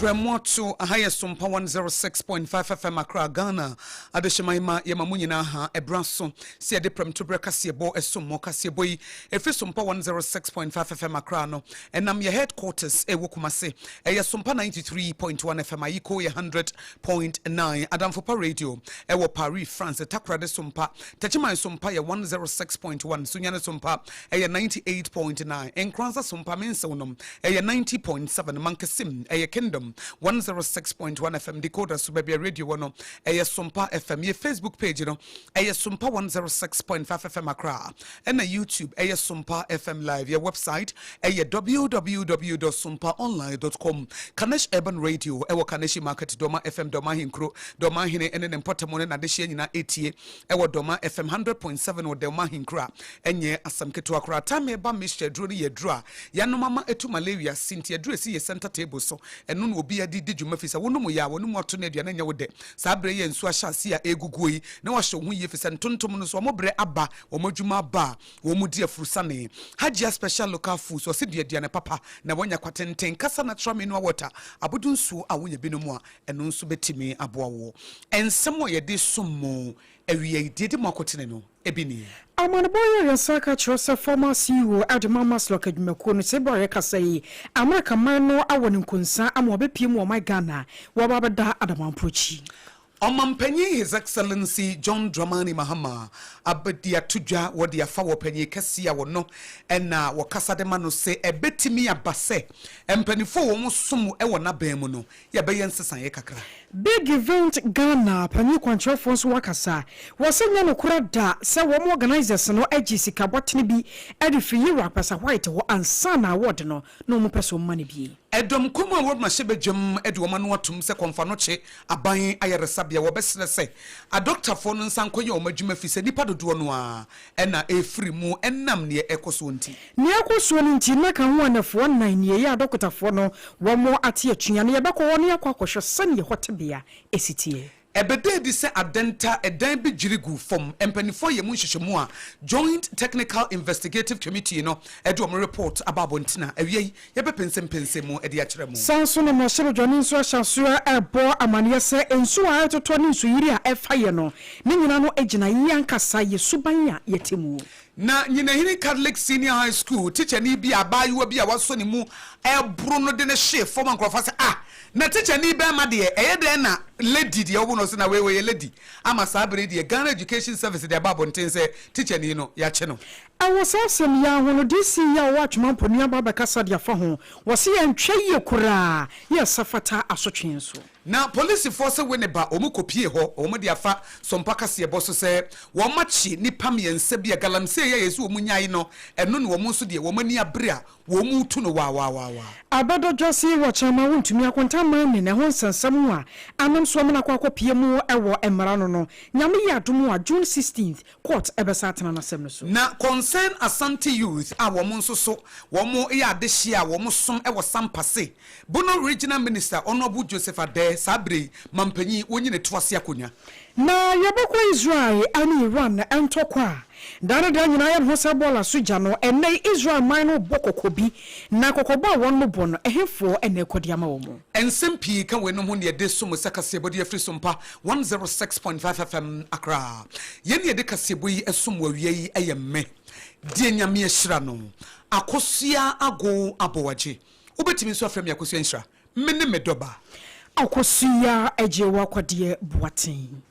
Prɛmoato, aha yɛ Sompa 106.5 FM Accra, Ghana. Adehyema yi ma yɛma mo nyinaa ha ɛberɛ aso sɛ yɛde prɛmtoberɛ kaseɛbɔ ɛsom mo. Kaseɛbɔ yi ɛfiri Sompa 106.5 FM Accra no ɛnam yɛ headquarters ɛwɔ Kumase ɛyɛ Sompa 93.1 FM Ayiko yɛ 100. Point nine Adamfopa Radio ɛwɔ Paris France Takoradi so mpa Techiman so mpa yɛ one zero six point one Sunyani so mpa ɛyɛ ninety eight point nine Nkoranza so mpa Mensew nom ɛyɛ ninety point seven Mankesim ɛyɛ Kingdom one zero six point one FM Decoder so baabi a radio wɔ no ɛyɛ so mpa FM Yɛ Facebook page no ɛyɛ so mpa one zero six point five FM Accra ɛna YouTube ɛyɛ Sumpa FM Live. Yɛ website ɛyɛ www.sumpaonline.com. Kanesh Urban Radio ɛwɔ Kaneshi Market, Doma FM, Doma Ahenkuro, Doma Ahene ɛne ne mpɔtam ne n'adehyeɛ nyinaa ɛtie ɛwɔ Doma FM 100.7 wɔ Doma Ahenkuro a ɛnyɛ asɛm ketewa koraa. Time ɛba mixture aduro no yɛ aduro a yɛanom ama ɛtu malaria si nti aduro ɛsi yɛ center table so ɛno na obi adi di dwuma fi sɛ wonom yɛ a w'anom ato ne aduane nyɛ wo dɛ. Saa berɛ yi a nsuo ahyɛ aseɛ a ɛreguguo yi, na wɔahyɛ wɔn ho yie ɛfiri sɛ ntontom no nso wɔn berɛ aba, wɔn adwuma aba a wɔdi afurusane. Hajia Special Local Foods wɔ se dua aduane papa na woanya kwa tenten. Kasa Natural Mineral Water, Abodu nsuo a wonya bi nom a, ɛno nso bɛtumi aboa wo. Nsɛm a yɛde som mo awia yi, deɛ ɛdi mu akotene no. bi ni. Amanebɔ yi ayɛ saa ka kyerɛ sɛ former CEO de ma Maslok adwumakuo no sɛ Buhari rekasa yi Amerika man no awɔ no nkonsa ama wabɛpue mu wɔ ɔman Ghana waba abɛda Adamanpo akyi. Ɔmanpanyin His Excellency John Dramani Mahama abɛdi ato dwa wɔ de afa wɔ panyin kɛseɛ a wɔno na wɔkasa de ma no sɛ ɛbɛtumi aba sɛ mpaninfoɔ a wɔn som wɔ n'abɛn mu no yɛbɛyɛ nsesaeɛ kakra. Big Event Ghana panyin kwankyerɛfoɔ nso wakasa. Wɔse nyɛ nokorɛ da sɛ wɔn organisers no gye sika bɔtene bi de firi Yira Kwasa White hɔ ansa na award no na wɔn pɛ sɛ wɔn ma no bi. Ɛdɔm kuo mu a wɔn mmarahyɛ badwam de wɔn ano atom sɛ Kɔmfanokye aban ayaresabea wɔbɛsrɛ sɛ adɔktafoɔ no nsa nkɔyɛ wɔn adwuma efisɛ nnipa dodoɔ no ara na ɛrefiri mu ɛnam neɛ ɛkɔ soɔ nti. Neɛ ɛkɔ soɔ no nti na ka ho anɛfoɔ nnan nie yɛ adɔkotafoɔ no wɔn ate atua no yɛbɛkɔ hɔ na yɛakɔ akɔhwɛ sɛdeɛ ɛhɔ tebea si teɛ. Ɛbɛda adi sɛ adɛnta ɛdan bi dwiri guu fam mpaninfoɔ yɛ mu nhyehyɛmu a Joint Technical Investigative Committee no de wɔn report aba abɔntene a awia yi yɛbɛpensempensem mu de akyerɛ mo. Saa ara nso na mmarahyɛbadwani nso ahyɛ aseɛ rebɔ amaneɛ sɛ nsuo a ɛretotɔ ne nsuyiri a ɛrefa yɛn no, ne nyinaa no gyina yɛn ankasa yɛn suban a yɛte mu. Na Nyinahene Catholic Senior High School tikyani bi a abaayewa bi a wasɔ ne mu aburo no de no hyee fam a nkurɔfoɔ sɛ, Ah! Na tikyani barima deɛ, ɛyɛ dɛn na lady deɛ wobo no so na wei ɔyɛ lady? Ama saa berɛ yi deɛ, Ghana Education Service de aba abɔnten sɛ tikyani no, yɛakye no. Wɔ saa asɛm yi ara ho no, DC yi a ɔwɔ Atwema Mpo no aba abɛkasa de afa ho. Wɔse yɛantwa yie koraa, yɛ ɛsa fata asotwe nso. Na polisifoɔ se we ne ba wɔn kɔpie hɔ wɔn de afa Sompa kaseɛbɔ so sɛ wɔn akye nnipa mmiɛnsa bi a galamsey a yɛse wɔn nyae no ɛno ne wɔn nso deɛ wɔn ani abere a wɔn retu no waawaawaawaa. Abɛdɔdwa se wɔ kyɛma wontumi akonta mani na ɛho nsɛnsɛm ho a anam so wɔn akɔ akɔpie mu wɔ mmara no no nyame yɛ adom a June sixteenth Court bɛsan atena n'asɛm no so. Na Concerned Asante Youth a wɔn nso so wɔn yɛ adehyeɛ a wɔn som wɔ Sampa se, Bono Regional Minister Honourable Joseph Addeh saa berɛ yi mampanyin wɔnyi ne to ase akonwa. Na yɛbɛkɔ Israel ne Iran ntɔkwa a da ne da nyinaa yɛn ho sɛ bɔɔla so gya no, ɛnnɛ yi Israel man no rebɔ kɔkɔ bi, na kɔkɔbɔ a wɔnom bɔ no, ɛhefoɔ na ɛrekɔ de ama wɔn? Nsɛm pii ka weinom ho na yɛde so mo sɛ kaseɛbɔdeɛ afiri so mpa One zero six point five FM Accra Yɛn na yɛde kaseɛbɔ yi som wɔ awia yi ɛyɛ me deɛ Nyame ahyira no Akosua Ago Aboagye Wobɛtumi nso afrɛ me Akosua Nhyira Me ne me dɔ ba. Akosua Agyeo Akwadeɛ Boateng.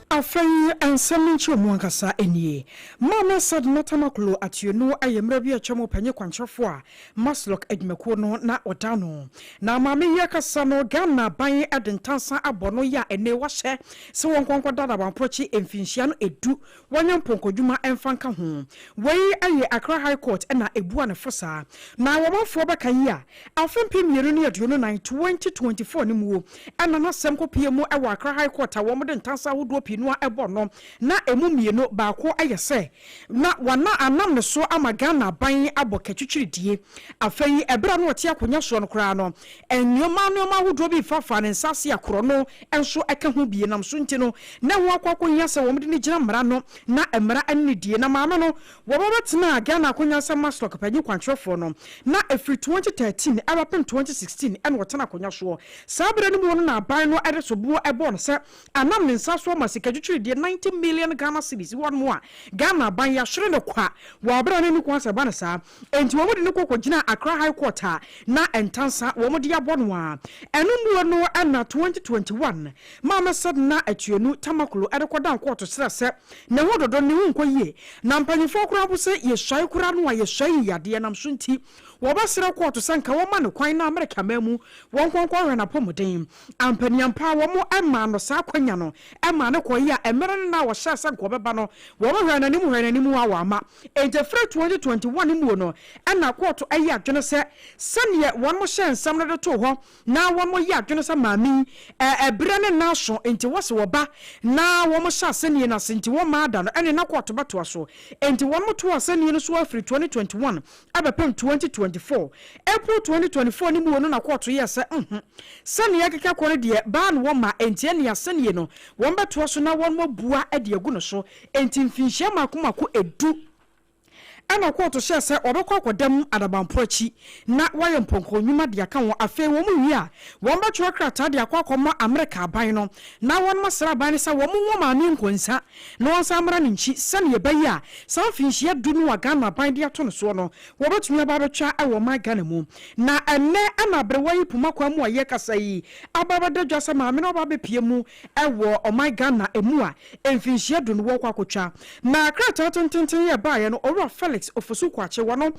Afei nsɛm no nkyerɛmu ankasa nie, Maame Sad Natamakolo Atieno yɛ mmerɛ bi a atwa mu ɔpanyin kwankyerɛfoɔ a Maslok adwumakuo no na ɔda ano. Na maame yi akasa no, Ghana aban de ntansa abɔ no ya ɛnee wahyɛ sɛ wɔnkɔ nkɔda no Awanprɔkye mfinhyia no ɛdu, wɔnyɛ mpɔnkɔdwuma mfa nka ho. Wei yɛ Accra High Court na ɛbua no fo saa. Na wɔmanfoɔ bɛka yi a, Afe mpem mmienu ne aduonu nnan, 2024, no muo na n'asɛm kɔpuee mu wɔ Accra High Court a wɔde ntansa ahodoɔ pii no ara bɔ no, na ɛmu mmienu baako yɛ sɛ na wɔana anam ne so ama Ghana aban abɔ katwitwiridie. Afei yi, ɛberɛ a na ɔte akonwa soɔ no koraa no, nnoɔma nnoɔma ahodoɔ bi refaafaa ne nsa ase a korɔno nso ka ho bi nam so nti no, na ɛho akɔ akɔhia sɛ wɔde no gyina mmara no na mmara ne no die. Na maame no Wɔma bɛtenaa Ghana akonnwa sɛ Mastock panyin kwankyerɛfoɔ no, na ɛfiri twenty thirteen ɛbɛpem twenty sixteen ɛna ɔtena akonnwa soɔ. Saa berɛ no mu no na aban no de soboɔ bɔɔ no sɛ anam ne nsa so ama sika twitwiridie ninety million Ghana cedis wɔ no a Ghana aban yɛahyere no kwa wɔ aberɛ a na ɛnni kwan sɛ ɛba no saa enti wɔde no kɔ kɔgyinaa Accra High Court a na ntansa wɔde abɔ no a ɛno mu no na twenty twenty one Maame Sedna Atuenu Tamaklo de kɔdan kɔɔto srɛ sɛ Ne ho dodo ne ho nkɔ yie na mpanyinfoɔ koraa mpo sɛ yɛsuae koraa no a yɛsuae yi yadeɛ nam so nti wɔbɛsrɛ kɔɔto sɛ nka wɔma no kwan na Amerika man mu wɔn nkɔ nkɔhwɛ no apɔmuden ampaniampaa wɔn maa no saa akwanya no maa no kɔe a ɛmere no na wɔhyɛɛ sɛ nka ɔbɛba no wɔhwɛɛ no anim hwɛɛ no anim a wamma enti ɛfiri 2021 mu no na kɔɔto ayi adwene sɛ sɛdeɛ wɔn hyɛɛ nsɛm no de too hɔ na wɔn yɛ adwene sɛ maame yi ɛbrɛ ne nan aso nti wɔse wɔba na wɔn hyɛ asɛnnie no ase nti wɔn mmaa da no ɛne na kɔɔto bɛtoa so nti wɔn to asɛnnie no so afiri twenty twenty one abɛpem twenty twenty four April twenty twenty four no muo no na kɔɔto yɛɛ sɛ nhu sɛ nea ɛkeka kɔ no deɛ baa no wɔn mma nti ɛne asɛnnie no wɔn bɛtoa so na wɔn abua de agu no so nti mfinhyia mako mako ɛdu Ɛnna ɔkɔɔto hyɛɛ sɛ wɔbɛkɔ akɔda mu adabamporo akyi na wɔayɛ mpɔnkɔ nnwuma de aka ho. Afei wɔwie a, wɔbɛtwerɛ krataa de akɔ akɔma Amerika aban no, na wɔasra aban no sɛ wɔnwo Maame Nko nsa na wɔnsan mmra no nkyi, sɛnea ɛbɛyɛ a saa mfirinhyia du no a Ghana aban de ato no soɔ no, wɔbɛtumi aba abɛtwa wɔ ɔman Ghana mu. Na ɛnnɛ na aberewa yi poma kwan mu a yɛkasa yi aba abɛda dwa sɛ maame no aba abɛpue mu Ɛwɔ ɔman Ghana mu a mfinhyia du no wɔkɔ akotwa. Na krataa tententen yi a ɛbaeɛ no Owura Felix Ofosu Kwakyewa no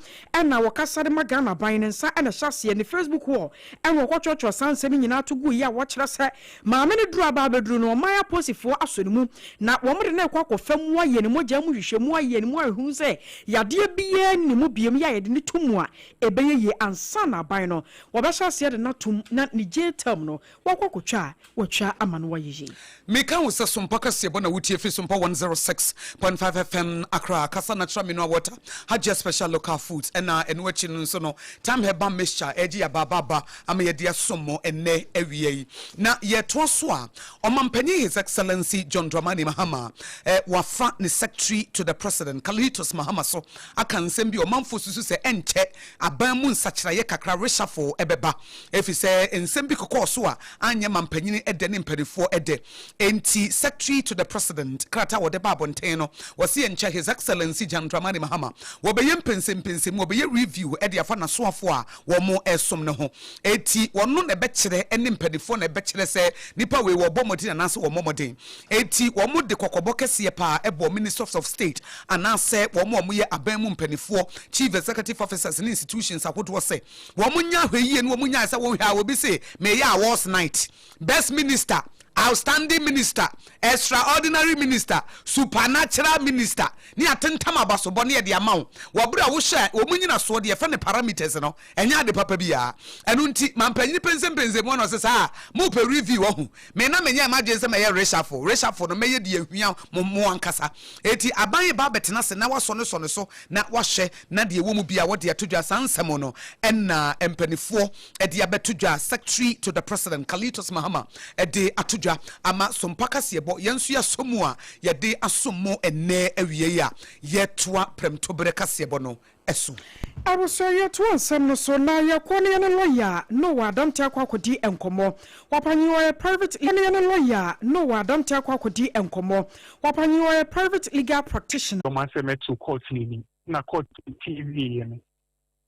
na wɔkasa de ma Ghana aban no nsa na ɛhyɛ aseɛ. Ne Facebook wall na wɔkɔtwerɛtwerɛ saa nsɛm yi nyinaa to guiɛ a wɔkyerɛ sɛ maame no duru a baa bɛduru no ɔman aposifoɔ asɔ ne mu na wɔde no rekɔ akɔfa mu ayɛ ne mogya mu nhwehwɛmu ayɛ ne mu ahunu sɛ yadeɛ biara nni ne mu biom yɛ a yɛde no to mu a ɛbɛyɛ yie ansa na aban no wɔbɛhyɛ aseɛ de no atom na ne jail term no Wɔkɔ kotwa a, wɔtwa ama no wɔyɛ yie. Meka wo sɛ sompa kɛseɛ bɔ na wo tie firi sompa 106.5 FM Accra kasa natural mineral water Hajia special local foods ɛna ɛno akyi no nso no time herbal mixture ɛgye yɛ abaaba aba ama yɛde asom mo ɛnɛ awia yi na yɛtoa so a ɔmampanyin his excellency John Dramani Mahama ɛ wafa ne secretary to the president Kalitos Mahama so aka nsɛm bi ɔmanfoɔ susu sɛ ɛnkyɛ aban mu nsakyeraeɛ kakra reshuffle bɛba efisɛ nsɛm bi kɔkɔɔ so a anyɛ mampanin dɛ ne mpaninfoɔ dɛ nti Secretary to the President krataa a wɔde ba abɔnten no wɔse ɛnkyɛ His Excellency John Dramani Mahama wɔbɛyɛ mpɛnsɛmpɛnsɛmu wɔbɛyɛ review de afa n'asoafoɔ a wɔresom no ho eti wɔno na ɛbɛkyerɛ ne mpaninfoɔ na ɛbɛkyerɛ sɛ nipa wei wɔrebɔ mmɔden anaasɛ wɔmmɔ mmɔden. Enti wɔde kɔkɔbɔ kɛseɛ pa ara bɔɔ Ministers of State anaasɛ wɔn a wɔyɛ aban mu mpanimfoɔ, Chief Executive Officers ne Institutions ahodoɔ sɛ wɔnyɛ ahwɛyie na wɔnyae sɛ wohwɛ a obi se meyɛ awards night, Best Minister, Outstanding Minister, Extraordinary Minister, Supernatural Minister ne atentam abasobɔ na yɛde ama wo wɔ berɛ a wohyɛ wɔn nnyinasoɔ deɛ yɛfrɛ no parameters no Ɛnyɛ ade papa biaa. Ɛno nti mampanyin pensenpensen mu a na ɔse saa mopɛ review wahu. Me na menyɛɛ m'adwene sɛ mɛyɛ reshuffle. Reshuffle no mɛyɛ deɛ ehia mo mo ankasa. Enti aban reba abɛtena ase na wasɔ ne sɔ no so na wahwɛ na deɛ ɛwɔ mu biaa wɔde ato dwa. Saa nsɛm no na mpanifoɔ de abɛto dwa. Secretary to the President Kalitos Mahama de ato dwa ama Sompa Kaseɛbɔ. Yɛn nso yɛasɔ mu a yɛde asom mo ɛnnɛ awiei a yɛtoa Prɛmtoberɛ Kaseɛbɔ no so. Abusua yi toa nsɛm no so na yɛkɔ ne yɛne lɔya no wɔ Adante akɔ akɔdi nkɔmmɔ. Wapanyin ɔyɛ private yɛne yɛne lɔya no wɔ Adante akɔ akɔdi nkɔmmɔ. Wapanyin ɔyɛ private legal practitioner. Wɔn asɛm ɛtoo court no anim na court tie wieɛ no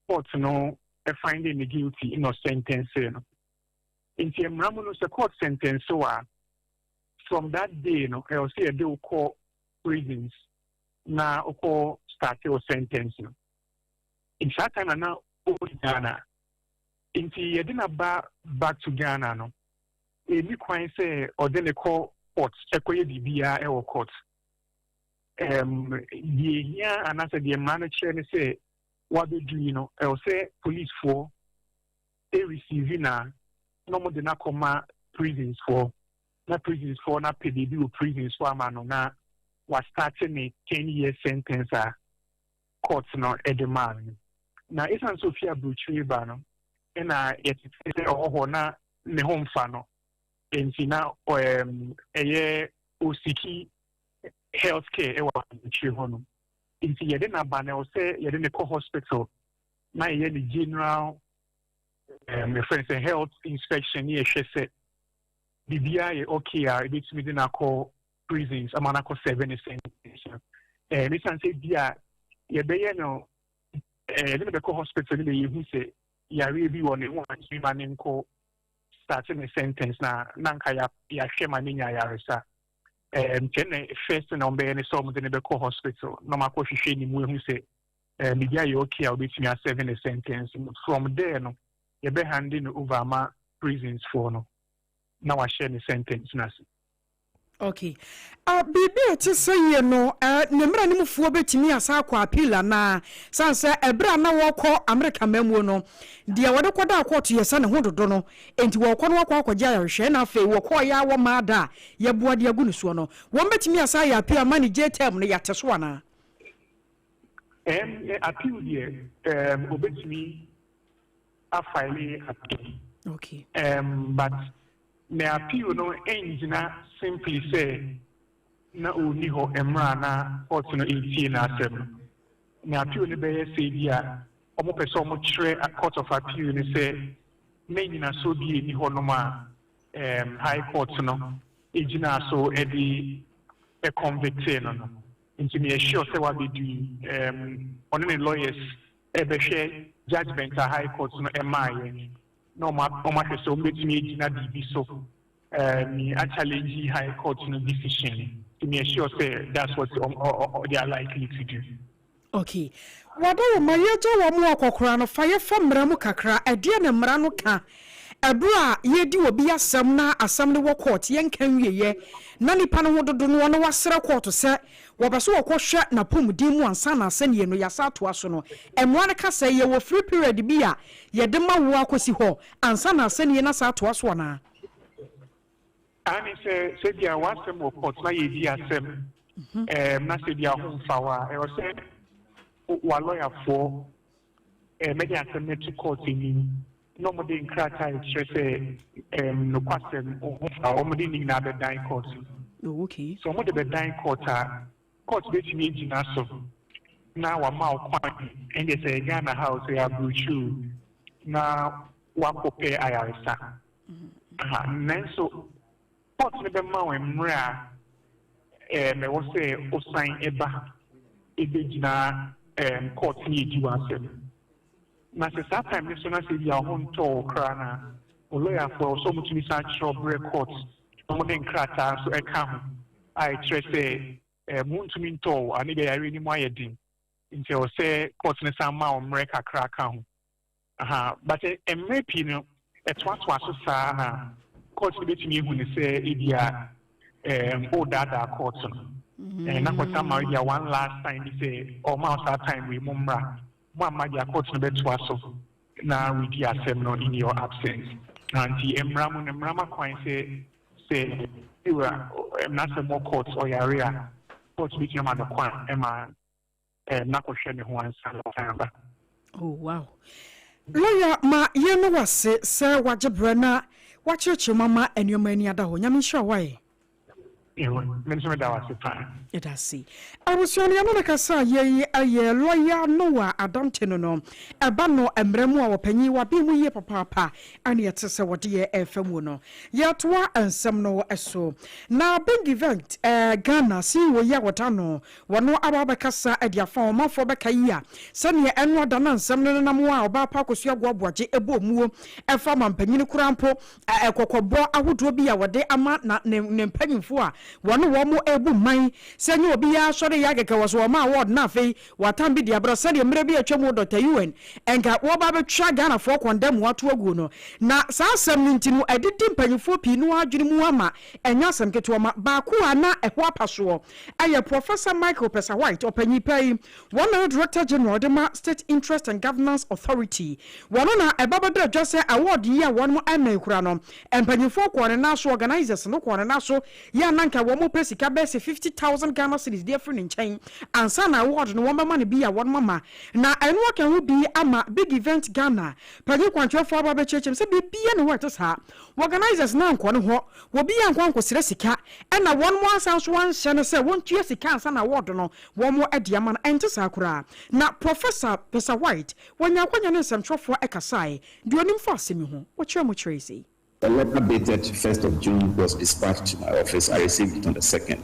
court no finding no guilty na ɔsɛntɛnsee no. Nti mmara mu no sɛ court sɛntɛnse wo a from that day no ɛwɔ sɛ yɛde wo kɔ prisons na ɔkɔ starte wo sentence no nti saa time na na ɔwɔ Ghana nti yɛde na ba back to Ghana no ɛni kwan sɛ ɔde ne kɔ court ɛkɔyɛ biribiara ɛwɔ court um, deɛ hia anaasɛ deɛ mmara no kyerɛ ne sɛ wabɛdu yi no ɛwɔ sɛ policefoɔ ɛreceive na na ɔmode no akɔma prisonsfoɔ na prisons foɔ no apɛ baabi wɔ prisons hɔ ama no na wa starte ne ten years sentence a court no de maa no no. Na ɛsiane sɛ ɔfiri aburokyire ba no na yɛtetee sɛ ɔwɔ hɔ na ne ho mfa no nti na ɛyɛ ɔsiki health care ɛwɔ aburokyire hɔ no nti yɛde no aba na ɛwɔ sɛ yɛde no kɔ hospital na yɛyɛ ne general um, friends, health inspection, yeah, she said. biribiara yɛ ok a ebetumi de no akɔ prisons ama no akɔ sɛve ne sentence no ɛɛ mesan sɛ bi a yɛbɛyɛ no ɛɛ yɛde no bɛkɔ hospital no na yɛhu sɛ yareɛ bi wɔ ne ho antumi ma ne nkɔ start ne sentence na na nka yɛahwɛ ma ne nya ayaresa ɛɛ nkyɛn na first na ɔbɛyɛ ne sɛ ɔmde no bɛkɔ hospital na ɔmakɔ hwehwɛ ne mu ehu sɛ ɛɛ biribiara yɛ ok a obetumi asɛve ne sentence from there no. yɛbɛ hande no over ama prisons foɔ no na wahyɛ ne sentence no ase. Ok. Ah, biribi a ɛte sɛie no, eh, ne mmaranemfoɔ bɛtumi asan akɔ appeal anaa? Sane sɛ ɛberɛ a na wɔrekɔ Amerika amammuo no, deɛ wɔde kɔdaa kɔɔto yɛ sɛ ne ho dodo no, enti wɔrekɔ no wɔakɔ akɔgye ayarehwɛ, ɛna afei wɔkɔɔeɛ ara wɔmmaa da a yɛboa de agu ne soɔ no. Wɔbɛtumi asan ayɛ appeal ama ne jail term no yɛate so anaa? Ɛɛm, appeal deɛ, ɛɛm, wɔbɛtumi a file yi ato mu. Okay. Um, but me appeal no engyina simply sɛ na ɔnni hɔ mmerɛ a na court no ɛretie n'asɛm no. Me appeal no bɛyɛ sɛ bi a wɔpɛ sɛ wɔkyerɛ court of appeal no sɛ na nyinasoɔ bi ɛni hɔ nom a um, high court no ɛgyinaa so de ɛconvictee no no. Nti meyɛ sure sɛ wabɛdi um, ɔne ne lawyers bɛhwɛ judgement a High Court no ɛmaeɛ na wɔn a wɔn ahwɛ sɛ wɔn bɛtumi agyina biribi so me a challenge High Court no decision nti me assure sɛ that's what wɔn ɔ they are likely to do. Okay wada wo ma yɛgya wɔn a wɔkɔkora no fa yɛfa mmara mu kakra ɛdeɛ na mmara no ka ɛberɛ a yɛredi obi asɛm na asɛm no wɔ court yɛnka nwieɛ na nipa no ho dodo noɔ na wasrɛ court sɛ Wɔpɛ sɛ wɔkɔhwɛ n'apɔmuden mu ansa na asɛnniiɛ no yɛasan atoa so no. Mmara no ka sɛ yɛwɔ free period bi a yɛde ma wo ara kɔsi hɔ ansa na asɛnniiɛ no asan atoa so anaa? Aane, sɛ sɛdeɛ w'asɛm wɔ court na yɛredi asɛm na sɛ bi a ho mfa wo a, ɛwɔ sɛ w'alɔyafoɔ Mɛde asɛm no ato kɔɔt anim, na wɔde nkrataa a ɛkyerɛ sɛ nokwasɛm ho fa a, wɔde ne nyinaa bɛdan kɔɔt no. Sɛ wɔde bɛdan kɔɔt a, kɔɔt bɛtumi agyina so na wama wo kwan, ɛndeɛ sɛ Ghana ha o, sɛ yɛ aburokyiri o, na wakɔpɛ ayaresa. Nanso, Court no bɛma wo mmerɛ a ɛwɔ sɛ wosan ba bɛgyina court ne adi w'asɛm. Na sɛ saa time no so na sɛ ebia wo ho ntɔɔ wo koraa no a, wo lɔyafoɔ ɛwɔ sɛ wɔtumi san kyerɛw brɛ court na wɔde nkrataa nso ɛka ho a ɛkyerɛ sɛ mo ntumi ntɔɔ wo anaa ebia yareɛ no mu ayɛ den nti ɛwɔ sɛ court no san ma wo mmerɛ kakra ka ho. Aha, but mmerɛ pii no ɛtoatoa so saa ha. Court no bɛtumi ahu no sɛ ebia ɛɛm woredaadaa court no. Ɛɛ na court ama ebia one last time bi sɛ ɔma wo saa time wei mo mmra. Mo amma deɛ court no bɛtoa so na wadi asɛm no in your absence. Aha nti mmara mu no mmara ma kwan sɛ sɛ wura mmara sɛ mo court ɔyare a court bɛtumi ama no kwan ma. eh, na kɔhwɛ ne ho ansa na ɔsan aba. Oh, wow. Lawyer, ma yɛn no wase sɛ wagye berɛ na wakyerɛkyerɛ mu ama nneɛma ani ada hɔ. Nyame nhyira wo ayɛ. Ewe, me nso meda wase paa. Yɛda ase. Abusua no, yɛne no kasa a yei ɛyɛ Lawyer Noah Adante no no. Ɛba no mmara mu a ɔpanyin wabee mu yie papaapa ɛne ɛte sɛ wɔde yɛ ɛfa muo no. Yɛtoa nsɛm no so. Na Bengivent eh, Ghana CEO yi a wɔda no Wɔno ara bɛkasa de afa wɔn manfoɔ bɛka yi a sɛdeɛ ɛno ada na nsɛm no nenam wɔn a ɔbaa pa akɔsua agoaboagye ɛbɔ omuo ɛfa mampanin koraa mpo a ɛkɔkɔbɔ ahodoɔ bi a wɔde ama na ne ne mpanyinfoɔ a wɔne wɔn ɛrebu mman sɛ nyɛ obi ara sɔre yɛ akɛkɛ wɔ so wɔn maa wɔɔd na afei wɔatan bi de abrɛ sɛdeɛ mmerɛ bi a atwa mu Dɔkta Yuan nka wɔba abɛtwa Ghanafoɔ kɔndɛm mu ato aguo no na saa asɛm no nti no adidi mpanyinfoɔ pii no ara adwene mu ama ɛnyɛ asɛm ketewa ma baako a na ɛho apa soɔ. Ɛyɛ Professor Michael Pesa-White, ɔpanyin pa yi, wɔn na ne Director General de ma State Interest and Governance Authority. Wɔn na ɛba bɛda adwa sɛ award yi a wɔnom mmɛn koraa no, mpanyinfoɔ kɔɔ ne nan so, organisers no kɔɔ ne nan so, yɛ a na nka wɔnom pɛ sika bɛyɛ sɛ fifty thousand Ghana cedis de afiri ne nkyɛn ansa na award no wɔbɛma no bi a wɔnom ama. Na ɛno aka ho bi ama Big Event Ghana panyin kwankyerɛfoɔ aba abɛkyerɛkyerɛ mu sɛ biribiara nni hɔ a ɛte saa. W'organisers no annkɔ no hɔ, w'obiaa annkɔ annkɔsrɛ sika, ɛna wɔn mo ansan nso annhyɛ no sɛ wɔntua sika ansa na award no wɔn mo de ama no, ɛnte saa koraa. Na Professor Besa White, wɔnyaa akwanya ne nsɛmtwerɛfoɔ ɛkasaeɛ, deɛ ɔnim fa asɛm yi ho, wɔkyerɛɛ mu kyerɛɛ yɛ sei. A letter dated first of June was dispatched to my office, I received it on the second.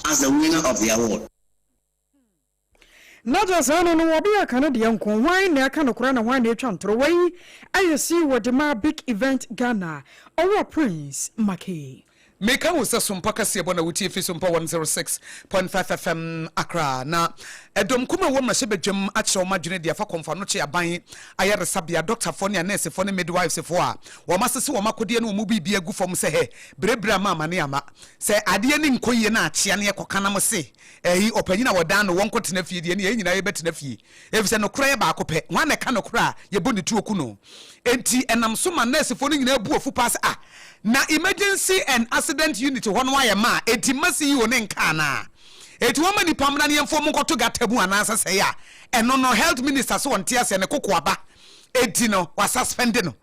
as the winner of the award. Na gya saa no no ɔbea ka ne deɛ nko hwan na ɛka nokora na hwan na ɛtwa ntorɔ wei ayɛ see wɔ de maa big event Ghana ɔwɔ prince makee. Meka wo sɛ Sompa kaseɛbɔ na wotie fi Sompa 106.5 FM Accra na ɛdɔm kumaa a wɔ mmarahyɛbadwam akyerɛ wɔn adwene de afa Kɔmfoanokye Aban Ayaresabea dɔktafoɔ ne anɛɛsefoɔ ne midwifefoɔ a wɔasese wɔn akodeɛ ne wɔn biribiara agu fam sɛ hɛ berɛberɛ ama amane ama Sɛ adeɛ ani nkɔ yie na akyea ne yɛkɔka na mose ɛyi ɔpanyin a wɔdan no wɔnkɔtena fie deɛ ɛneɛ yɛn nyinaa yɛbɛtena fie efisɛ nokorɛ yɛ baako pɛ. Hwan na ɛka nokorɛ a yɛbɔ ne tuo ku no? Enti ɛnam so ma nɛɛsefoɔ no nyinaa bu afu paa sɛ ah na emergency and accident unit hɔ no ayɛ ma a enti mma CEO no nka anaa? Enti wɔmma nnipa mmra ne yɛmfa wɔn nkɔto gutter mu anaasɛ sɛi a ɛno no health minister se ɔnte aseɛ ne kokoaba enti no wɔasuspend no.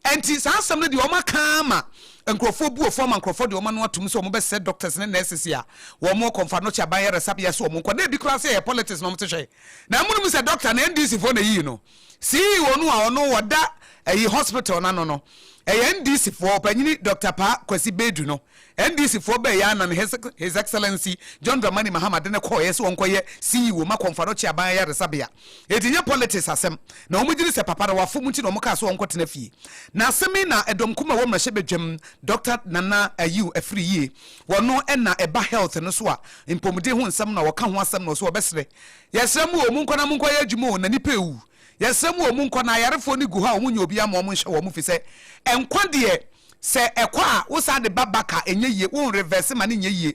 Ɛnti saa asɛm no deɛ wɔn aka ara ma nkorɔfoɔ bu wɔfoɔ ama nkorɔfoɔ de wɔn ano atom sɛ wɔn bɛ sɛ doctors ne nurses a wɔn kɔ nfa nɔkye aban yaresabea so wɔn nkɔ na ebi koraa sɛ ɛyɛ politics na wɔn te hwɛ na ɛmo nom sɛ doctor no NDC foɔ na ɛyiyi no CEO no a ɔno ɔda ɛyi hospital no ano no ɛyɛ NDC foɔ ɔpanyini Doctor Paa Kwasi Badu no NDC foɔ bɛɛyɛ a na ne His His Excellency John Dramani Mahama de no kɔɔeɛ sɛ ɔnkɔyɛ CEO ma Komfadɔkye Aban Ayaresabea. Enti nyɛ politics asɛm na wɔn gyedi sɛ papa na wafom nti na wɔn kaa sɛ ɔnkɔtena fie. Na asɛm yi na ɛdɔm kumaa wɔ mmarahyɛ badwam Doctor Nana Ayew afiri yie. Wɔno ɛna ɛba health no so a mpɔmuden ho nsɛm na wɔka ho asɛm na ɔse ɔbɛsrɛ. Yɛsrɛ mo o monkɔ na monkɔ yɛ adwuma o na nipa ɛwu. Yɛsrɛ mo o monkɔ na ayarefoɔ no gu hɔ a wɔn nnya obiara ma wɔn nhyɛ wɔn fisɛ nkwa deɛ Sɛ ɛkɔ a wo san de ba back a ɛnyɛ yie, wo nreverse ma no nyɛ yie.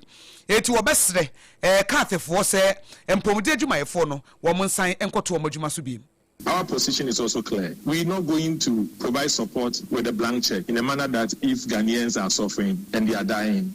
Enti wɔbɛsrɛ ɛɛ Cathfoɔ sɛ mpɔmuden adwumayɛfoɔ no wɔn nsan nkɔto wɔn adwuma so biom. Our position is also clear, we not going to provide support with a blank check in a manner that if Ghanaians are suffering and they are dying,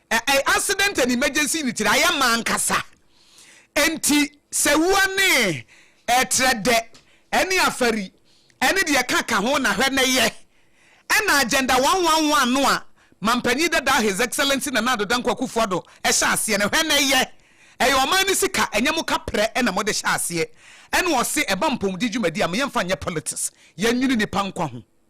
A accident and emergency unit na ayɛ ma ankasa nti sɛ wua ne trɛdɛ ne afari ne deɛ ɛka ka ho na hwɛ na yɛ ɛna agenda one one one no a Mampanyin dadaa His Excellency Nana Addo Dankwa Akufo Addo hyɛ aseɛ no hwɛ na yɛ ɛyɛ ɔman no sika ɛnyɛ mo kaprɛ na mode hyɛ aseɛ ɛna ɔse ɛba mpɔmuden dwumadi a mo yɛmfa nyɛ politics yɛnwene nipa nkwa ho.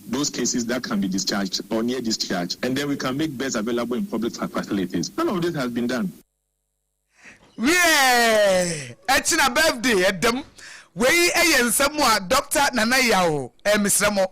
those cases that can be discharged or near discharge and then we can make beds available in public facilities. None of this has been done. Wiɛɛ! Ɛkyena birthday ɛda mu. Wei yɛ nsɛm a Doctor Nana Yaw eh, mesrɛ mo.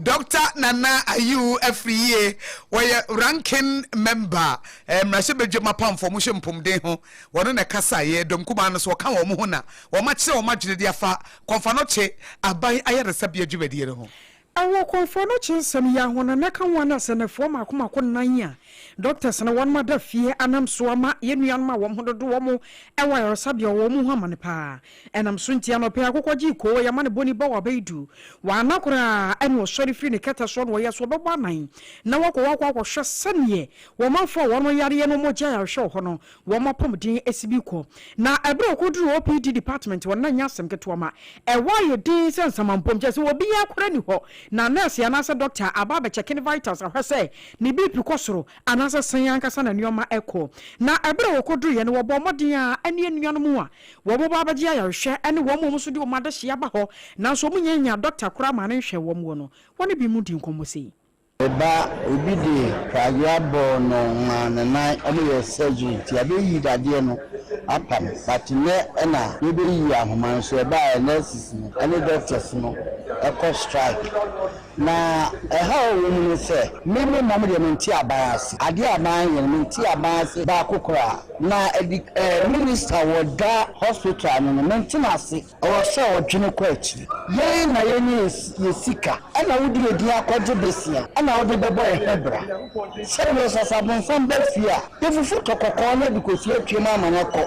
Doctor Nana Ayew afiri yie. Wɔyɛ ranking member eh, mmarahyɛbadwam apamfoɔ ɔmo hwɛ mpomden ho. Wɔno na ɛkasa yɛ dɔm kumaa no so, ɔka wɔn ho na wɔakyerɛ wɔn adwene de afa Kɔnfanɔkye aban ayaresabea dwumadie no ho. Wɔ kɔnfoɔ no kye nsɛm yi aho no, na ka ho a na sɛnɛfoɔ mako mako nnan a doctors no wɔnom ada fie anam so ama yɛn nuanom a wɔn ho dodo wɔn wɔ ayaresabea wɔ wɔn ho amane paa. Ɛnam so nti anɔpɛ yi akokɔ gyee koo, yɛn amanebɔne ba wɔ abɛɛdu. Wanna koraa a na ɔsɔre firi ne kɛtɛ soɔ na ɔyɛ sɛ ɔbɛbɔ anan na wakɔ hɔ akɔ akɔhwɛ sɛdeɛ wɔn manfoɔ a wɔnom yareɛ no wɔn gye ayarehwɛ wɔ hɔ no Wɔn apɔmuden si bi kɔ, na bere a okoduruu OPD department hɔ no, na ɛnyɛ asɛm ketewa ma ɛwɔ ayɛ dinn sɛ nsamampom, kyerɛ sɛ obiara koraa nni hɔ, na nɛɛse anaasɛ dɔkta a aba abɛkyɛke ne vitals ahwɛ sɛ ne BP kɔ soro anaasɛ sɛn ankasa na nneɛma rekɔ. Na bere a okoduruiɛ no, wɔbɔɔ mmɔden a ɛne anuanom a wɔba abɛgye ayarehwɛ ne wɔn a wɔn nso de wɔn adehye aba hɔ nanso wɔnnya nyaa dɔkta koraa maa no nhwɛɛ wɔn wɔ no, wɔne bi mu dii nkɔmmɔ sei. Eba obi de pragea bɔɔ no ma ne nan ɔmo yɛ surgery nti yɛabeyi dadeɛ no apa no but nnɛ na yɛbeyi ahoma no so ɛba a nurses no ɛne doctors no ɛkɔ strike na ɛhaw a ɛwɔ mu ne sɛ me me mom deɛ mente aban ase adeɛ a aban yɛ no mente aban ase baako koraa na ɛdi ɛɛ minister wɔ da hospital no no mente no ase. Ɔwɔ sɛ ɔdwene kɔ akyiri. Yɛn na yɛnya yɛn sika na wode yɛn din akɔgye bosea na wode bɛbɔ yɛn ho bra. Sɛ berɛ so sɛ abonsam ba fie a, yɛfufu tɔ kɔkɔɔ no de kɔsi atwam ama no akɔ.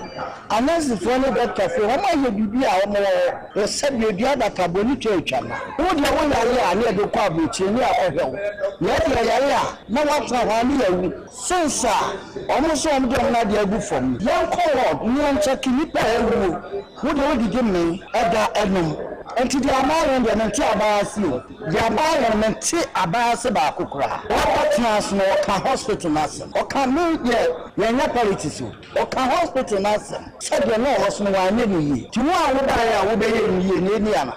Anɛsefoɔ ne dɔktafoɔ yi, wɔayɛ biribi a wɔwɔ hɔ, wɔsa dua, dua abatabɔ ne twa atwa no. Wo deɛ woyare a na yɛde wo kɔ aburokyire ne yɛakɔhwɛ wo. Yɛn deɛ yɛyare a na woatena hɔ ara ne yɛawu. Since a wɔn se wɔde wɔn adeɛ agu fam no, yɛnkɔ ward ne yɛnkyɛke nnipa a awuo. Wo deɛ wodidi mmee ɛda ɛnom. Nti deɛ abaa yɛn deɛ mente abaa ase o. Deɛ abaa yɛn mente abaa ase baako koraa. Ɔkɔ teas no ɔka hospital no asɛm ɔka me deɛ yɛnyɛ politics o ɔka hospital no asɛm sɛdeɛ na ɔwɔ so no wanyɛ no yie nti wo a wobaeɛ a wobɛyɛɛ no yie na ɛni ana.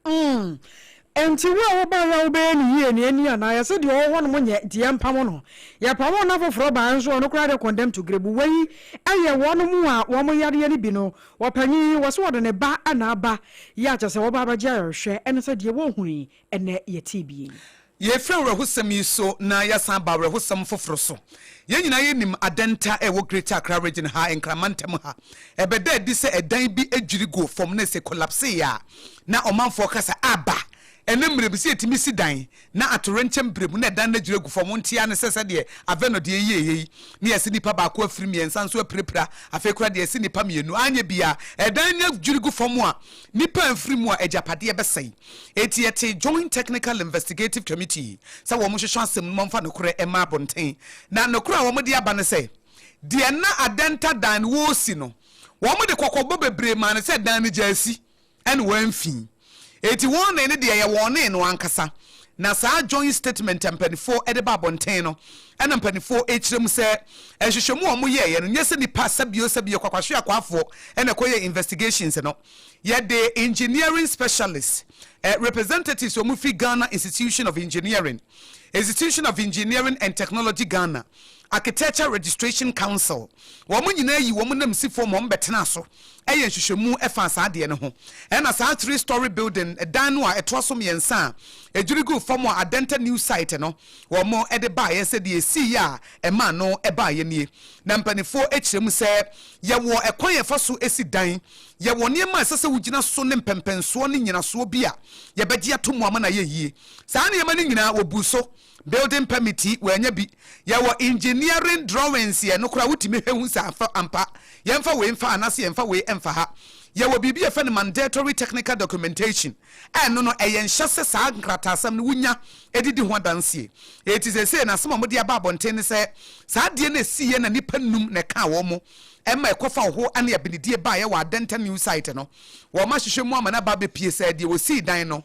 Mm. Enti wo a wobae a wobɛyɛ no yie ne ani anaa? Yɛse deɛ ɔwɔ hɔnom nyɛ deɛ yɛmpamo no. Yɛpamo na foforɔ baeɛ nso a ɔno koraa deɛ condemn to grave. Wei yɛ wɔnom a wɔn yadeɛ no bi no ɔpanyin yi wɔse ɔde ne ba na aba yɛ a kyɛsɛ wɔba abɛgye ayɔrehwɛ ɛne sɛ deɛ wɔhunu yi ɛnɛ yɛtee bi yi. Yɛrefi awerɛhosɛm yi so na yɛasan aba awerɛhosɛm foforo so. Yɛn nyinaa yɛnim adɛnta a ɛwɔ Greater Accra Region ha, Nkran Mantam ha. Ɛbɛda adi sɛ ɛdan bi dwiri guu fam na ɛsɛ kolapsee a na ɔmanfoɔ ka sɛ aba. Ɛnnɛ mmerɛ bi sɛ yɛtumi si dan na atowerɛnkyɛm mberɛ mu na ɛdan no adwiri agu fam. Wonte ara ne sɛ sɛdeɛ Aveno deɛ yɛeɛ yi na yɛasi nnipa baako afiri mmiɛnsa nso apirapira. Afei koraa deɛ yɛasi nnipa mmienu anyɛ biara. Ɛdan no adwiri gu fam a Nnipa mfiri mu a agyapadeɛ bɛsɛe. Enti yɛtee Joint Technical Investigative Committee sɛ wɔnhwehwɛ asɛm no mu mfa nokorɛ mma abonten. Na nokorɛ a wɔde aba ne sɛ, deɛ na adɛnta dan no wɔresi no, wɔde kɔkɔbɔ bebree maa no sɛ dan no gyaa si, ɛna wɔamfi. Enti wɔne no deɛ ɛyɛ wɔne no ankasa, Na saa joint statement a mpaninfoɔ de ba abɔnten no na mpaninfoɔ rekyerɛ mu sɛ nhwehwɛmu a wɔyɛeɛ no nyɛ sɛ nipa sɛbio sɛbio kwakwahwe akwaafoɔ na ɛkɔyɛɛ investigations no. Yɛde engineering specialist representatives a wɔfiri Ghana Institution of Engineering, Institution of Engineering and Technology Ghana, Architecture Registration Council, wɔn nyinaa yi wɔn nanmusifoɔ ma wɔbɛtenaa so. yɛ nhwehwɛmu faa saa adeɛ no ho. Ɛna saa three story building dan no a ɛtoa so mmiɛnsa a ɛdwiri guu fam a Adenta News Site no wɔn de baeɛ sɛ deɛ ɛsiiɛ a ɛma ano baeɛ nie. Na mpaninfoɔ kyerɛ mu sɛ yɛwɔ ɛkwan a yɛfa so si dan, yɛwɔ nneɛma a ɛsɛ sɛ wogyina so ne mpɛmpɛnsoɔ ne nyinasoɔ bi a yɛbɛgye ato mu ama no ayɛ yie. Saa nneɛma no nyinaa wɔbuu so Building permit yi wanya bi. Yɛwɔ engineering drawings yɛ, nokorɛ a wotumi hwɛ hu sɛ afɛ ampa. Yɛmfa wei mfa ha anaasɛ yɛmfa wei mfa ha. Yɛwɔ biribi a yɛfrɛ no mandatory technical documentation a ɛno no ɛyɛ nhyɛ sɛ saa nkrataasɛm no wonya de di ho adanseɛ. Enti seesei no asɛm a wɔde aba abɔnten ne sɛ saa adeɛ no siiɛ na nnipa nnum na ɛkaa wɔn ma ɛkɔfa ɔho ne abenedie baeɛ wɔ Adenta new site no. Wɔahwehwɛ mu ama no aba abɛpue sɛ deɛ wɔsii dan no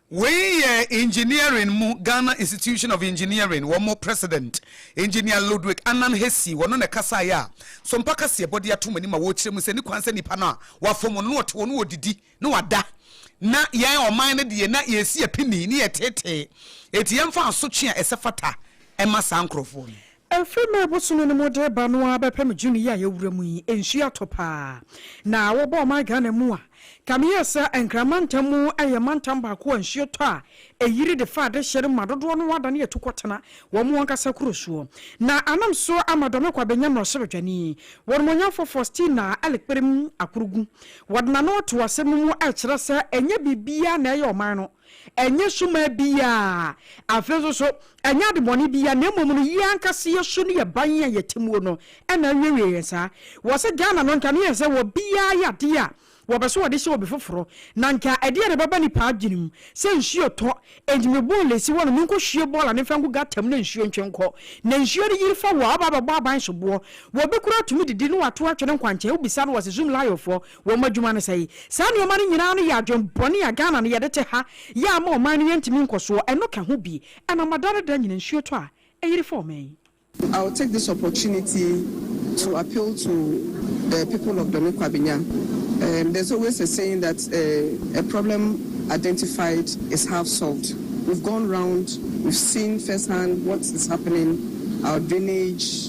Wei yɛ engineering mu Ghana Institution of Engineering wɔn president Engineer Ludwick Annan Hesi wɔno na ɛkasaeɛ a Sompa kaseɛbɔ de ato wɔn anim a wɔrekyerɛ mu sɛ ne kwan sɛ nnipa no a wɔafom wɔn no wɔte hɔ no wɔdidi na wɔada na yɛn ɔman no deɛ na yɛresi apini ne yɛtetee enti yɛmfa asotwe a ɛsɛ fata mma saa nkorɔfoɔ no. Efi May bosome no mu de reba no ara bɛpem June yi a yɛwura mu yi, nsuo atɔ pa ara. Na wobɔ ɔman Ghana mu a, kame yɛ sɛ Nkran mantam mu yɛ mantam baako a nsuo tɔ a ɛyiri de fa adehyeɛ no ma dodoɔ no ara adane atu kɔtena wɔn ankasa kuro soɔ. Na anam so ama Dɔme Kwa bɛnya mmarahyɛbadwani, Wɔnimonyamfoɔ Faustina Alikperim Akurugu. Wɔde n'ano to asɛm no mu rekyerɛ sɛ ɛnyɛ biribiara na ɛyɛ ɔman no, Ɛnyɛ suman biara, afei nso so ɛnyɛ adebɔne biara, na mmom no yɛn ankasa yɛn su ne yɛn ban a yɛte muo no na awiawie yɛn saa. Wɔ sɛ Ghana no nka no yɛ sɛ wɔ biara yɛ adeɛ a wɔpɛ sɛ wɔde hyɛ obi foforɔ, na nka ɛdeɛn na ɛbɛba nipa adwene mu? Sɛ nsuo tɔ, enti me bɔɔl ɛsi hɔ nom, me nkɔ hwie bɔɔl ane mfa ngu gutter mu na nsuo ntwe nkɔ, na nsuo no yiri fa wo a, wo ba bɛbɔ aban soboɔ, wɔ bi koraa tumi didi na wato atwene nkwankyɛn, wo bisa no wɔ se Zumlayo foɔ, Wɔn adwuma ne sɛe. Saa nneɛma no nyinaa no yɛ adwen bɔne a Ghana no yɛde te ha yɛ ama ɔman no yɛntumi nkɔsoɔ, ɛno ka ho bi. Ɛnam ada ne da nyina nsuo tɔ a ɛyere fa ɔman yi. I will take this opportunity to appeal to the people of Dome Kwabenya, um there's always a saying that uh a problem identified is half solved, we've gone round, we've seen first hand what is happening, our drainage,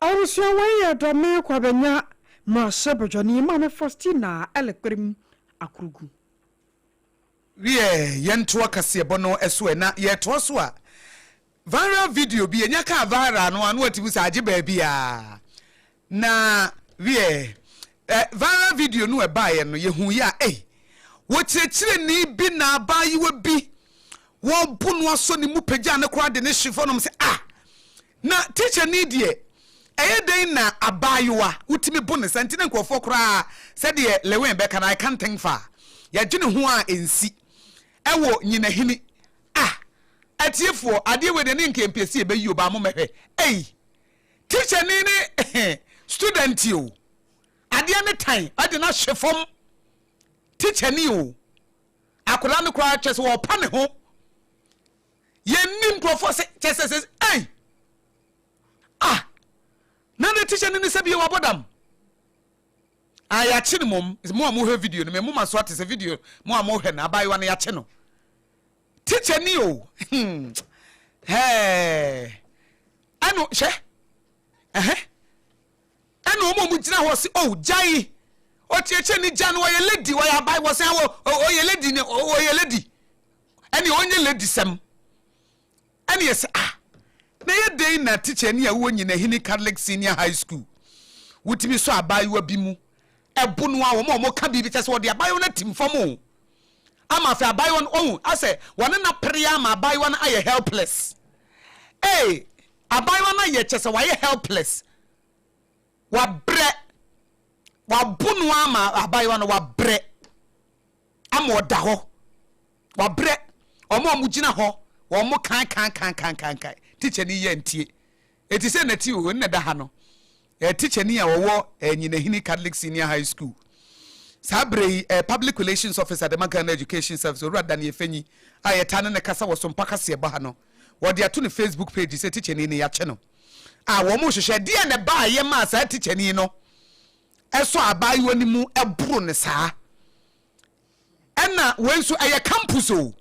Abusua wei yɛ dɔme kwa bɛnya mmarahyɛ badwani maame Faustina Ɛlɛkpɛrɛm Akurugu. Wiɛ yɛntoa kaseɛbɔ no so ɛ na yɛtoa so a viral video bi ɛnya kaa viral no a na watumi sɛ agye baabi a. Na wiɛ ɛ viral video no ɛbaeɛ no yɛhuu yɛ a ei wɔ kyerɛkyerɛni bi na abaayewa bi wɔɔbo no asɔ ne mu pagyaa no koraa de no hye fɔ nom sɛ ah na teacherni deɛ ɛyɛ dɛn na abaayewa wotumi bo no saa nti na nkurɔfoɔ koraa sɛdeɛ Lewin bɛka no I can't think far yɛdwene ho a ɛnsi ɛwɔ nyinahini ah atiefoɔ adeɛ wei deɛ ne nka yɛmpɛ sɛ yɛbɛyi o baa mommɛhwɛ ei Teacher ni ne student o. Adeɛ ne tan ɔde no ahye fam. Teacher ni o. Akwadaa no koraa kyɛ sɛ ɔpa ne ho. Yɛnni nkurɔfoɔ sɛ kyɛ sɛ sɛ ei ah na ne teacher ni ne sɛ bie wabɔ dam. Ah yɛakye no mmom mo a mohwɛ video no me moma so ate sɛ video mo a mohwɛ no abaayewa no yɛakye no. Teacher ni o hmm hɛɛ ɛno hwɛ ɛhɛ ɛna ɔmo ɔmo gyina hɔ se oh gya yi ɔkyeɛkyɛ ne gya no ɔyɛ lady ɔyɛ aban wɔsan wɔ ɔyɛ lady ne ɔyɛ lady ɛne ɔnyɛ lady sɛm Ɛna yɛse ah na ɛyɛ dɛn na tikyani a wowɔ Nyinahene Catholic Senior High School wotumi sɔ abaayewa bi mu ɛbo no ara wɔn a wɔka biribi kyɛ sɛ wɔde abaayewa no atim fam o ama afei abaayewa no ohu asɛ wɔne no apere ara ma abaayewa no ayɛ helpless ee abaayewa no ayɛ kyɛ sɛ wayɛ helpless wabrɛ wabo no ara ma abaayewa no wabrɛ ama ɔda hɔ Wabrɛ wɔn a wɔgyina hɔ wɔn mo kankankankankankan. Tikyani yi antie. Enti sɛ Nati o, nna ɛda ha no, ɛyɛ tikyani a ɔwɔ ɛɛ Nyinahini Catholic Senior High School. Saa berɛ yi, ɛɛ Public Relations Officer de ma Ghana Education Service, Owura Danny Efenyi, a yɛtaa ne no kasa wɔ Sompa Kaseɛbɔ ha no, wɔde ato ne Facebook page sɛ tikyani no, yɛakye no. A wɔn rehwehwɛ, ɛdeɛn na ɛbaa a ɛyɛ maa saa tikyani no sɔ abaayewa no mu boro no saa? ɛna wei nso ɛyɛ campus o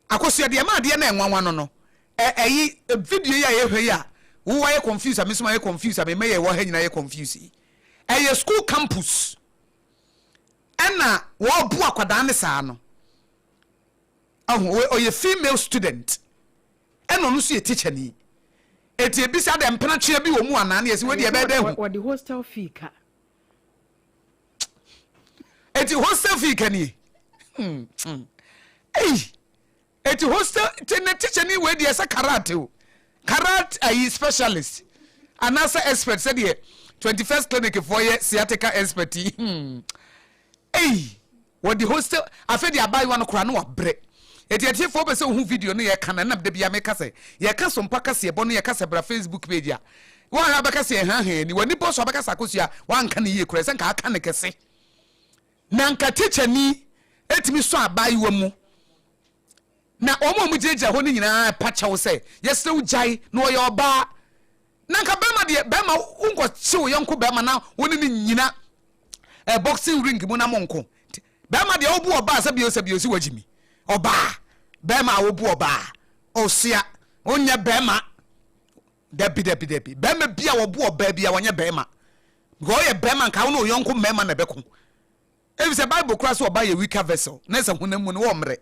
akosua deɛ ɛma adeɛ na ɛnwanwa no no ɛyi video yi a yɛhwɛ yi a wo wayɛ confuse a me nso mayɛ confuse a me mɛyɛ wɔ ha nyinaa yɛ confuse yi ɛyɛ school campus ɛna wɔɔbo akwadaa ne saa no ɛho ɔyɛ female student ɛna ɔno nso yɛ teacher ni eti ebisa dɛ mpenatwea bi wɔ mu anaa ne yɛsi wɔde ɛbɛyɛ dɛ ho. wɔde hostel fee ka. eti hostel fee kanie ei eti hostel te ne tekyɛ ne wei deɛ sɛ karate o karate ayi specialist anaasɛ expert sɛdeɛ twenty first clinic foɔ yɛ sciatica expert yi ei Wɔde hostel afe de abaayewa no koraa na wabrɛ. Enti atiefo wopɛ sɛ wohu video no yɛka no a, ɛnam da biara meka sɛ yɛka so mpa kaseɛbɔ no yɛka sɛ bra facebook page a, woanhwɛ a wobɛka sɛ yɛhaahaa yɛn ani, w'ani bɔ so a wobɛka sɛ akosua a woanka no yie koraa ɛsɛ nka aka no kɛse. Na nka tikyani tumi sɔ abaayewa mu na wɔn a wɔgyinagyina hɔ no nyinaa pa kyɛw sɛ yɛsrɛ wo gyae na ɔyɛ ɔbaa Na nka bɛrima deɛ bɛrima wonkɔ kye wo yɔnko bɛrima na wo ne ne nyina eh, boxing ring mu na mo nko bɛrima deɛ wobu ɔbaa sɛ bio sɛ bio si wagye mi ɔbaa bɛrima a wobu ɔbaa ɔsua wonyɛ bɛrima dabi dabi dabi bɛrima bi a wɔbu ɔbaa bi a wɔnyɛ bɛrima because ɔyɛ bɛrima nka wo ne ɔyɔnko mmarima na ɛbɛko ebi sɛ bible kora so ɔbaa yɛ weaker vessel na sɛ honam mu no wɔmmere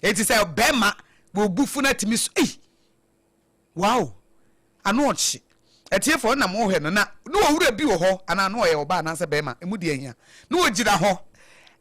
eti sɛ bɛrima wɔbu funu atumi so ei Wow! Ano ɔkye. Atiefoɔ, na mohwɛ no, na ne ɔwura bi wɔ hɔ, anaa ne ɔyɛ ɔbaa anaasɛ barima, ɛmu deɛ nhia, na ɔgyina hɔ,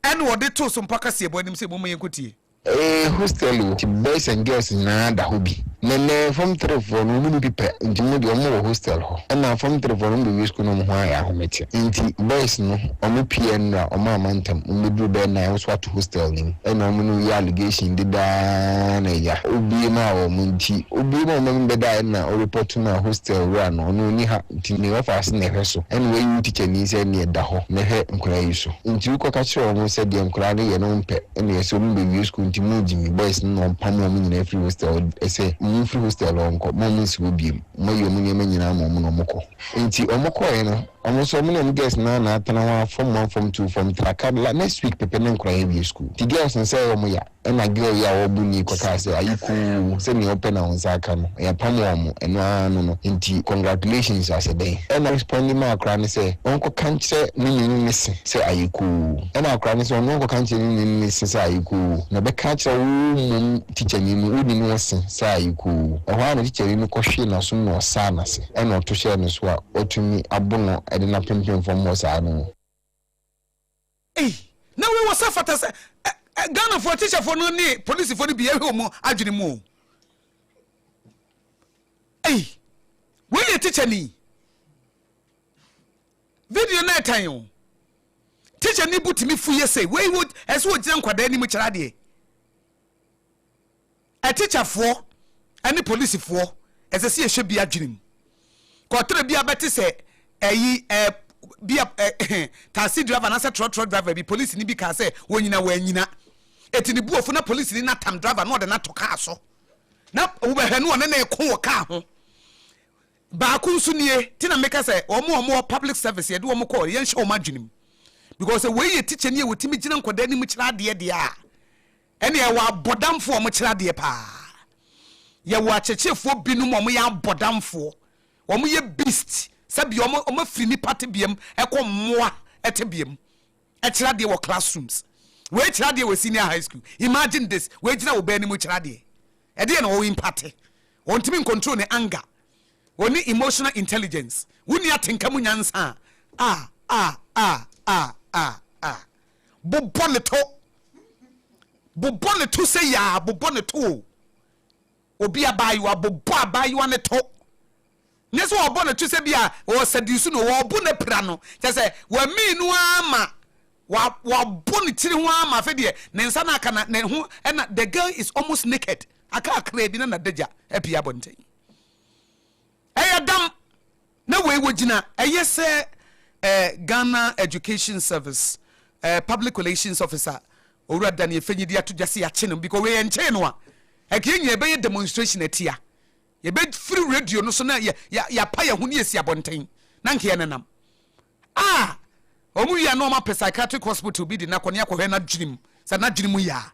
ɛna ɔde too so mpa kaseɛbɔ anim sɛ, Momma yɛnkɔtie. Ee, hostel o, nti boys and girls nyinaa da hɔ bi. Na ɛnnɛ, fam three foɔ no, wɔn mu bi pɛ, nti wɔn deɛ, wɔwɔ hostel hɔ. Ɛna fam three foɔ no, wɔbɛwie sukuu na wɔn ho ayɛ ahometeɛ. Nti boys no, wɔpue nnora, wɔamma ntɛm, wɔbɛduru bɛyɛ nine, wo nso woato. Hostel no mu. Ɛna ɔmo ne wo yɛ allegation deda ara na ɛya. Wobue maa wɔn nti wobue maa wɔn ma me bɛda a ɛna wo report maa hostel wura no ɔno ɔnni ha nti ne ɔfaase na ɛhwɛ so ɛna wayi wo tikyani sɛ ɛneɛ da hɔ na hwɛ nkwadaa yi so nti wo kɔka kyerɛ wɔn sɛ deɛ nkwadaa no yɛ no wo mpɛ ɛna ɛsɛ wɔn bɛ wie school nti mo gye me boys no na wɔn pamo wɔn nyinaa firi hostel ɛsɛ mo mfiri hostel hɔ nkɔ mo a mo nsi hɔ biem mo ayi wɔn nneɛma nyinaa ama wɔn na wɔn kɔ nti wɔn kɔɛ no Ɔmo nso ɔmo ne ɔmo girls naa na atena hɔ a form one form two form three aka la next week pɛpɛ na nkoraa awie school nti girls no sɛɛ ɔmo ya ɛna girl yi a ɔɔbo nii kɔ kaa sɛ ayi koo sɛ nea ɔpɛ na ɔnsa aka no ya pamo ɔmo ɛno aa no no nti congratulations asɛ dɛn ɛna respondi maa akoraa no sɛ ɔnkɔ ka nkyerɛ ne nunu ne se sɛ ayɛ koo ɛna akoraa no sɛ ɔno ɔnkɔ ka nkyerɛ ne nunu ne se sɛ ayɛ koo na ɔbɛka akyerɛ wo mmom teacher ni no wo nunu wo se sɛ ayɛ koo ɛhɔ aa na teacher ni no kɔ hwee nasom na ɔsaa nase. ɛna ɔto hyɛɛ no so a, watumi abo no de no apempem fam hɔ saa no mu. Ei, na wei wɔ sɛ fata sɛ ɛ, Ghanafoɔ teacherfoɔ no ne polisifoɔ no bi yɛhwɛ wɔn adwene mu o. Ei, wei yɛ teacher ni. Video no ɛtan o. Teacher ni bo tumi fu yɛ sɛ, wei wɔ, ɛsɛ wɔgyina nkwadaa anim kyerɛ adeɛ. Atikyafoɔ ne polisifoɔ ɛsɛ sɛ yɛhwɛ bi adwene mu kɔtere bi abɛte sɛ ɛyi ɛ bi a ɛ taxi driver anaasɛ trɔtrɔ driver bi polisini bi kaa sɛ wɔnyina wɔanyina ɛti ne buofo na polisini no atam driver na ɔde no ato kaa so na wobɛhwɛ no ɔne ne ko wɔ kaa ho baako nso nie ti na meka sɛ wɔn a wɔwɔ public service yɛde wɔn kɔ yɛnhyɛ wɔn adwene mu because wei yɛ tikya ni a wɔtumi gyina nkwadaa anim kyerɛ adeɛ deɛ a Ɛne yɛwɔ abɔdamfoɔ a wɔkyerɛ adeɛ paa. Yɛwɔ akyerɛkyerɛfoɔ binom a wɔyɛ abɔdamfoɔ. Wɔyɛ beast, sɛdeɛ wɔafiri nnipa tebea mu kɔ mmoa tebea mu kyerɛ adeɛ wɔ classrooms. Wei kyerɛ adeɛ wɔ senior high school. Imagine this, wei gyina wo ba anim kyerɛ adeɛ. Ɛdeɛ na ɔwɔ imparte. Ɔntumi ncontrol ne anger. Ɔnni emotional intelligence. Wonni atenka mu nyansa a, ah, ah, ah, ah, ah, ah. Bobɔ no to, bobɔ no to sei aa, bobɔ no to o. Obi abaayewa, bobɔ abaayewa no to. Nyɛ sɛ wɔbɔ no to sɛ bi a ɔɔsadiusu no, wɔɔbo no apira no. Kyerɛ sɛ wamii no aa ma wabo ne tiri ho aa ma afei deɛ ne nsa no aka na ne ho ɛna the girl is almost naked. Aka kakraa bi na n'adagya apue abɔnten. Ɛyɛ dam. Na wei wɔ gyina ɛyɛ sɛ eh, Ghana Education Service eh, Public Relations Officer Owura Daniel Fenyi de ato dwa sɛ yɛakye no because wei ɛnkyɛe no a ɛka yɛn nyinaa yɛbɛyɛ demonstration atia. Yɛbɛfiri radio no so na yɛ, yɛ, yɛapa yɛn ho ne yɛsi abɔnten na nka yɛnenam. Ah! Wɔn wie a na wɔn apɛ psychiatric hospital bi de no akɔ ne akɔhwɛ n'adwenem sɛ n'adwene mu yɛ a.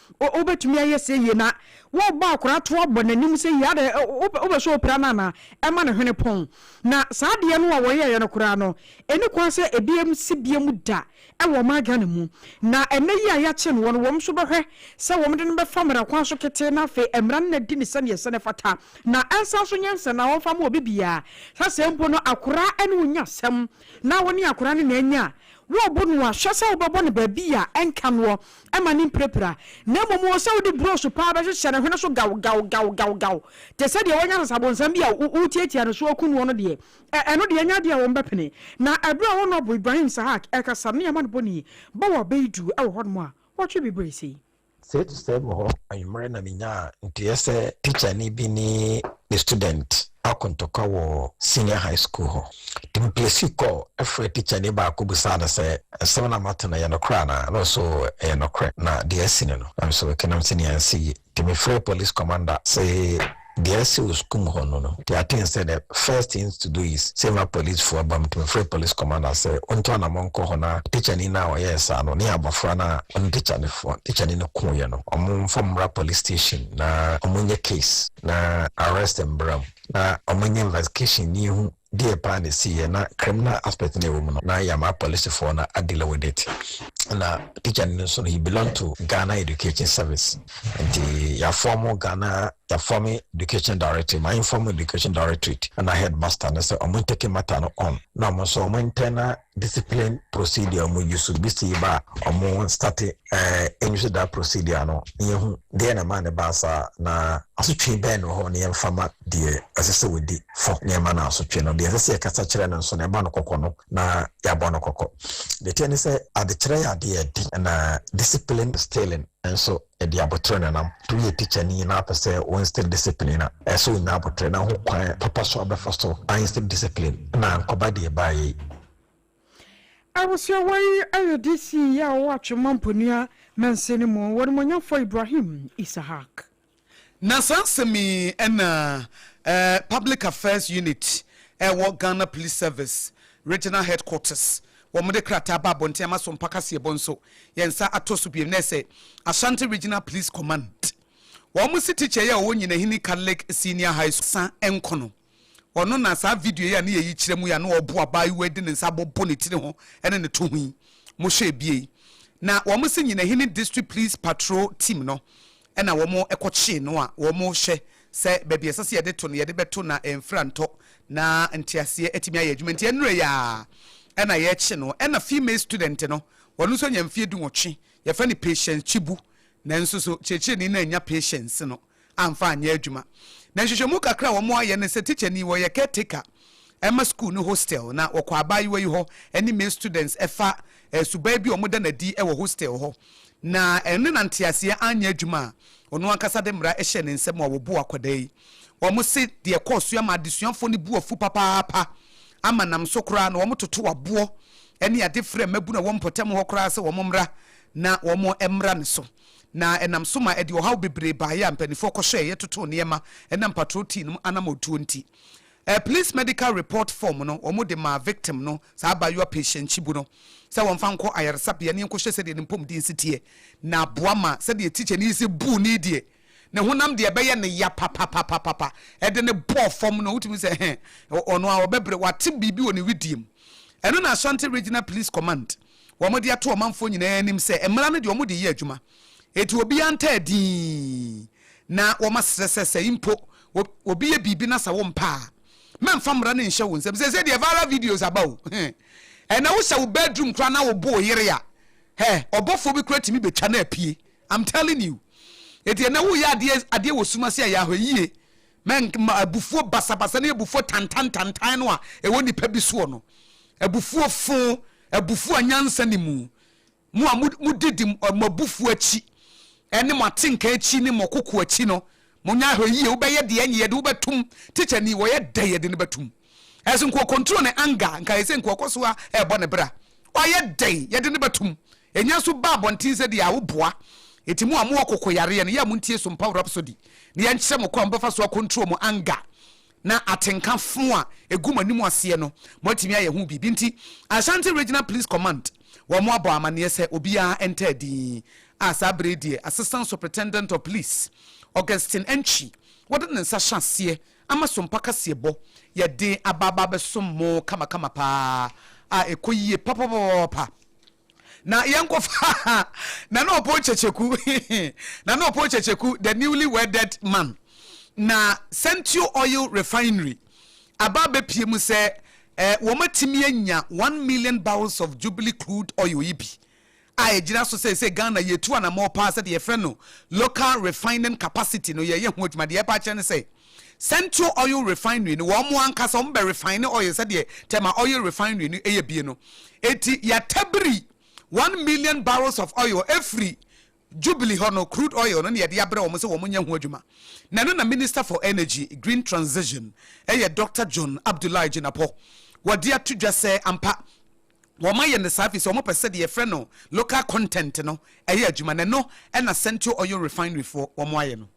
O, wobɛtumi ayɛ sɛ yie na wobɔ akwadaa to abɔ n'anim sɛ yie, adɛn, wopɛ, wopɛ sɛ ɔpira no anaa? Ɛma ne hwene pɔn. Na saa adeɛ no a wɔyɛeɛ no koraa no, ɛnni kwan sɛ ɛbɛyɛ mu sɛ bia mu da wɔ ɔman Ghana mu. Na ɛnnɛ yi a yɛakye noɔ no, wɔn nso bɛhwɛ sɛ wɔde no bɛfa mmara kwan so ketee na afei mmara no na adi no sɛdeɛ ɛsɛ na ɛfata. Na ɛnsan nso nyɛ nsɛnnaa a wɔmfa ma obi biara, sɛ sɛ mpo no akwadaa ne wo nya asɛm na wo ne akwadaa no na anya a, wobo noɔ a, hwɛ sɛ wobɛbɔ no baabi a ɛnka noɔ Mma no mpirapira, na mmom wɔ sɛ wode burohye paa bɛhyehyɛ ne hwene so gaw gaw gaw gaw gaw te sɛ deɛ wanya sasabonsam bi a wotiatia ne so akum noɔ no deɛ, ɛ, ɛno deɛ ɛnyɛ adeɛ a wɔbɛpene. Na ɛberɛ a Honourable Ibrahim Sahak rekasa ne Aman Boni ba wɔ Abeidu wɔ hɔnom a, wɔtwe bebree sei. Sei te sɛ wɔ hɔ anwummerɛ na menyaa nteɛ sɛ tikyani bi ne ne student. akɔ ntɔkwa wɔ senior high school hɔ. Templesee kɔ frɛɛ tikyani baako bisaa no sɛ, Nsɛm no a mate no, ɛyɛ nokorɛ anaa? Na ɔse, Oo, ɛyɛ nokorɛ, na deɛ asi no no, nanso kenam sɛ nea ansi yie. Nti mefrɛɛ police commander se deɛ asi wɔ sukuu mu hɔ no no, nti I think sɛ the first thing to do is sɛ yɛma police foɔ ba mu. Nti mefrɛɛ police commander sɛ ɔntu anamɔn nkɔ hɔ na tikyani no a ɔyɛɛ saa no ne abɔfra no a ɔne tikyani no kooeɛ no, wɔmfa wɔn mmra police station na wɔnyɛ case. na arrest mbra mu na ɔmo nyɛ investigation na yehu deɛ paa na esiiɛ na criminal aspect na ɛwɔ mu no na yɛama apolisifoɔ no a deal with it na teacher no nso no he belong to Ghana Education Service nti yɛafɔm Ghana yɛafɔm Education Directorate ma inform Education Directorate na headmaster no sɛ ɔmo ntake matter no on na ɔmo nso ɔmo ntɛn na discipline procedure ɔmo use bisi ba ɔmo starte ɛɛ nhwɛ da procedure no na yɛhu deɛ na ɛma ne ba saa na asotwe bɛn na ɔhɔ na yɛmfa ma deɛ ɛsɛ sɛ wɔdi fɔ na ɛma no asotwe no deɛ ɛsɛ sɛ yɛkasa kyerɛ no nso na ɛbɔ no kɔkɔ no na yɛabɔ no kɔkɔ deɛ ɛteɛ ne sɛ adekyerɛ yɛ adeɛ ɛde na discipline stealing nso Ɛde aboterɛ na nam. To yɛ teacher ni na apɛ sɛ wo instill discipline a, ɛsɛ sɛ onya aboterɛ na ho kwan papa so abɛfa so a instill discipline na ankɔba deɛ ɛbaa yɛ yi. Abusua wɔ yi ɛyɛ DC yi a ɔwɔ Atwem Mamponua Mansin no mu, wɔn nimonyamfoɔ Ibrahim Isahak. Na saa nsɛm yi na Public Affairs Unit a ɛwɔ Ghana Police Service Regional Headquarters Wɔde krataa ba abɔnten ama Sompa Kaseɛbɔ nso. Yɛn nsa atɔ so bio nnɛ sɛ Ashanti Regional Police Command, wɔn se tikya yi a ɔwɔ Nyinahini Catholic Senior High School, Sa Nko no, ɔno na saa video yi a ne yɛ yi kyerɛ mu yi a na ɔreboa abaayewa yi de ne nsa abobɔ ne tiri ho ne no to ho yi. Mohwɛɛ bie yi, na wɔn se Nyinahini District Police Patrol Team no Ɛna wɔn kɔ kyee no a wɔn hwɛ sɛ baabi a ɛsɛ sɛ yɛde to no yɛde bɛto na mfra ntɔ na nteaseɛ atumi ayɛ adwuma nti ɛnurɛ yi a ɛna yɛkye no ɛna female student no ɔno nso anya mfeɛ du nwɔtwe yɛfrɛ no patience kyibu nanso so kyerɛkyerɛni no annya patience no amfa anyɛ adwuma na nhwehwɛmu kakra a wɔn ayɛ no sɛ teacher ni wɔyɛ caretaker ɛma sukuu no hostel, na wɔkɔ abaayewa yi hɔ ne male students fa suban bi a wɔda no adi wɔ hostel hɔ, na ɛno ne na nteaseɛ anyɛ adwuma a ɔno ankasa de mmara hyɛɛ ne nsam a wɔboo akwadaa yi. Wɔse deɛ ɛkɔɔ so yi ama adesuafoɔ no bo afu papaapa ama nam so koraa na wɔtoto aboɔ ne ade frɛɛ mmabunu a ɛwɔ mpɔtam hɔ koraa sɛ wɔmmra na wɔmmra ne so, na ɛnam so ma ɛde ɔhaw bebree baeɛ a mpanimfoɔ kɔhwɛeɛ totoo nneɛma nam patrol team no anamɔtuo nti. Ɛɛ police medical report form no wɔn de maa victim no saa abaayewa patient Chibu no sɛ wɔn fa nkɔ ayaresabea ne nkɔhwɛ sɛdeɛ ne mpɔmuden si teɛ na aboa ma sɛdeɛ teacher no yi sɛ buu no yi deɛ ne honam deɛ ɛbɛyɛ no ya papapapapa ɛde no bɔɔ fam no wotumi sɛ hɛn ɔno a ɔbɛbrɛ wate biribi wɔ ne wedeɛ mu ɛno na Ashanti Regional Police Command wɔde ato ɔmanfoɔ nyinaa anim sɛ mmara no deɛ wɔde reyɛ adwuma, enti obiara ntaa dinn na wɔasrɛ sɛ sɛ mpo obi yɛ biribi na sɛ wompɛ a, mɛmfa mmara no nhyɛ wo nsam. Seesei deɛ viral videos aba o, he, ɛnna wohyɛ wo bedroom koraa na wobo wo yere a, hɛ, ɔbɔfoɔ bi koraa tumi bɛtwa no apue. I'm telling you. Enti ɛnna woreyɛ adeɛ adeɛ wɔ sum ase a ɛyɛ ahɔɛyie. Mɛnk ma abufuo basabasa ne abufuo tantantantan no a ɛwɔ nnipa bi soɔ no, abufuo fõ, abufuo a nyansa nni mu, mo a modidi mo abufuo akyi ne mo atenka akyi ne mo koko akyi no, monyɛ ahwɛ yie, wobɛyɛ deɛ ɛnyɛ yɛde wobɛtom, tikya ni, wɔyɛ dɛn yɛde no bɛtom? Ɛso nka ɔcontrol ne anger, nka ayɛ sɛ nka ɔkɔ so ara ɛrebɔ ne bra, ɔyɛ dɛn yɛde no bɛtom? Enya so ba abɔnten sɛ deɛ a woboa Enti mo a mowɔ kokoyareɛ no yɛ a montie Sumpah Rhapsody na yɛnkyerɛ mo kwan a mobɛfa so a control mo anger na atenka fo a ɛgu mo anim aseɛ no moatumi ayɛ ho biribi Enti Ashanti Regional Police Command wɔn abɔ amaneɛ sɛ obiara ntaa din a saa berɛ yi deɛ Assistant Superintendent of Police Augustine Antwi wɔde ne nsa hyɛ aseɛ Ama sompa kaseɛbɔ yɛ den aba aba abɛsom mo kamakama paa a ɛkɔ yie papapapapa na yɛnkɔ fa Nana Opon Kyekyeku Nana Opon Kyekyeku the newly wedded man na Sentio Oil Refinery aba abɛpue mu sɛ wɔatumi anya one million barrels of Jubilee crude oil yi bi a ɛgyina so sɛ sɛ Ghana yɛtu anamɔɔ paa sɛdeɛ yɛfrɛ no local refining capacity no yɛyɛ ho adwuma. Deɛ ɛba akyerɛ ne sɛ Central Oil Refinery no wɔn ankasa wɔn bɛ refine oil sɛdeɛ Tema Oil Refinery no yɛ bie no. Enti yɛatabiri one million barrels of oil afiri Jubilee hɔ no, crude oil no na yɛde abrɛ wɔn sɛ wɔnyɛ ho adwuma, na ɛno na Minister for Energy, Green Transition yɛ Doctor John Abdullahi Jinapor. Wɔde ato dwa sɛ ampa wɔayɛ no saa efisɛ wɔpɛ sɛ deɛ yɛfrɛ no local content no yɛ adwuma, na ɛno na Sentio Oil Refinery foɔ wɔayɛ no.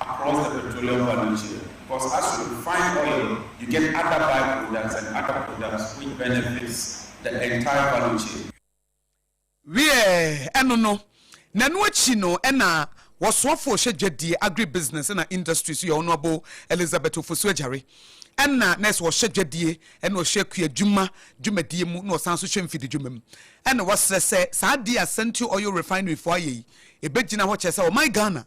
across the petroleum value chain because as you refine oil you get other by products and other products which benefits the entire value chain. Wiɛ, ɛno no, na ɛno akyi no na wɔsoɔfoɔ hyɛ dwadie, agribusiness na industries, yɛ Honourable Elizabeth Ofosu-Agyare, ɛna na ɛsɛ ɔhyɛ dwadie, ɛna ɔhyɛ kuadwuma dwumadie mu, na ɔsan nso hyɛ mfididwuma mu. Ɛna wɔsrɛ sɛ saa adeɛ a Santio Oil Refinery foɔ ayɛ yi, ɛbɛgyina hɔ kyerɛ sɛ wɔman Ghana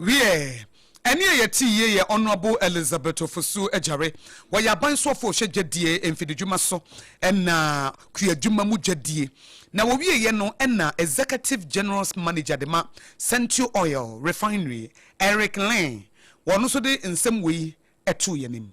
Wiɛ, ɛne a yɛte yie yɛ Honourable Elizabeth Ofosu Agyare. Wɔyɛ aban soɔfoɔ ɔhyɛ dwadie, mfididwuma so ɛna kuadwuma mu dwadie. Na wɔwieɛ no ɛna Executive Generals Manager de ma Sentio Oil Refinery, Eric Leng. Wɔno nso de nsɛm wei too yɛn anim.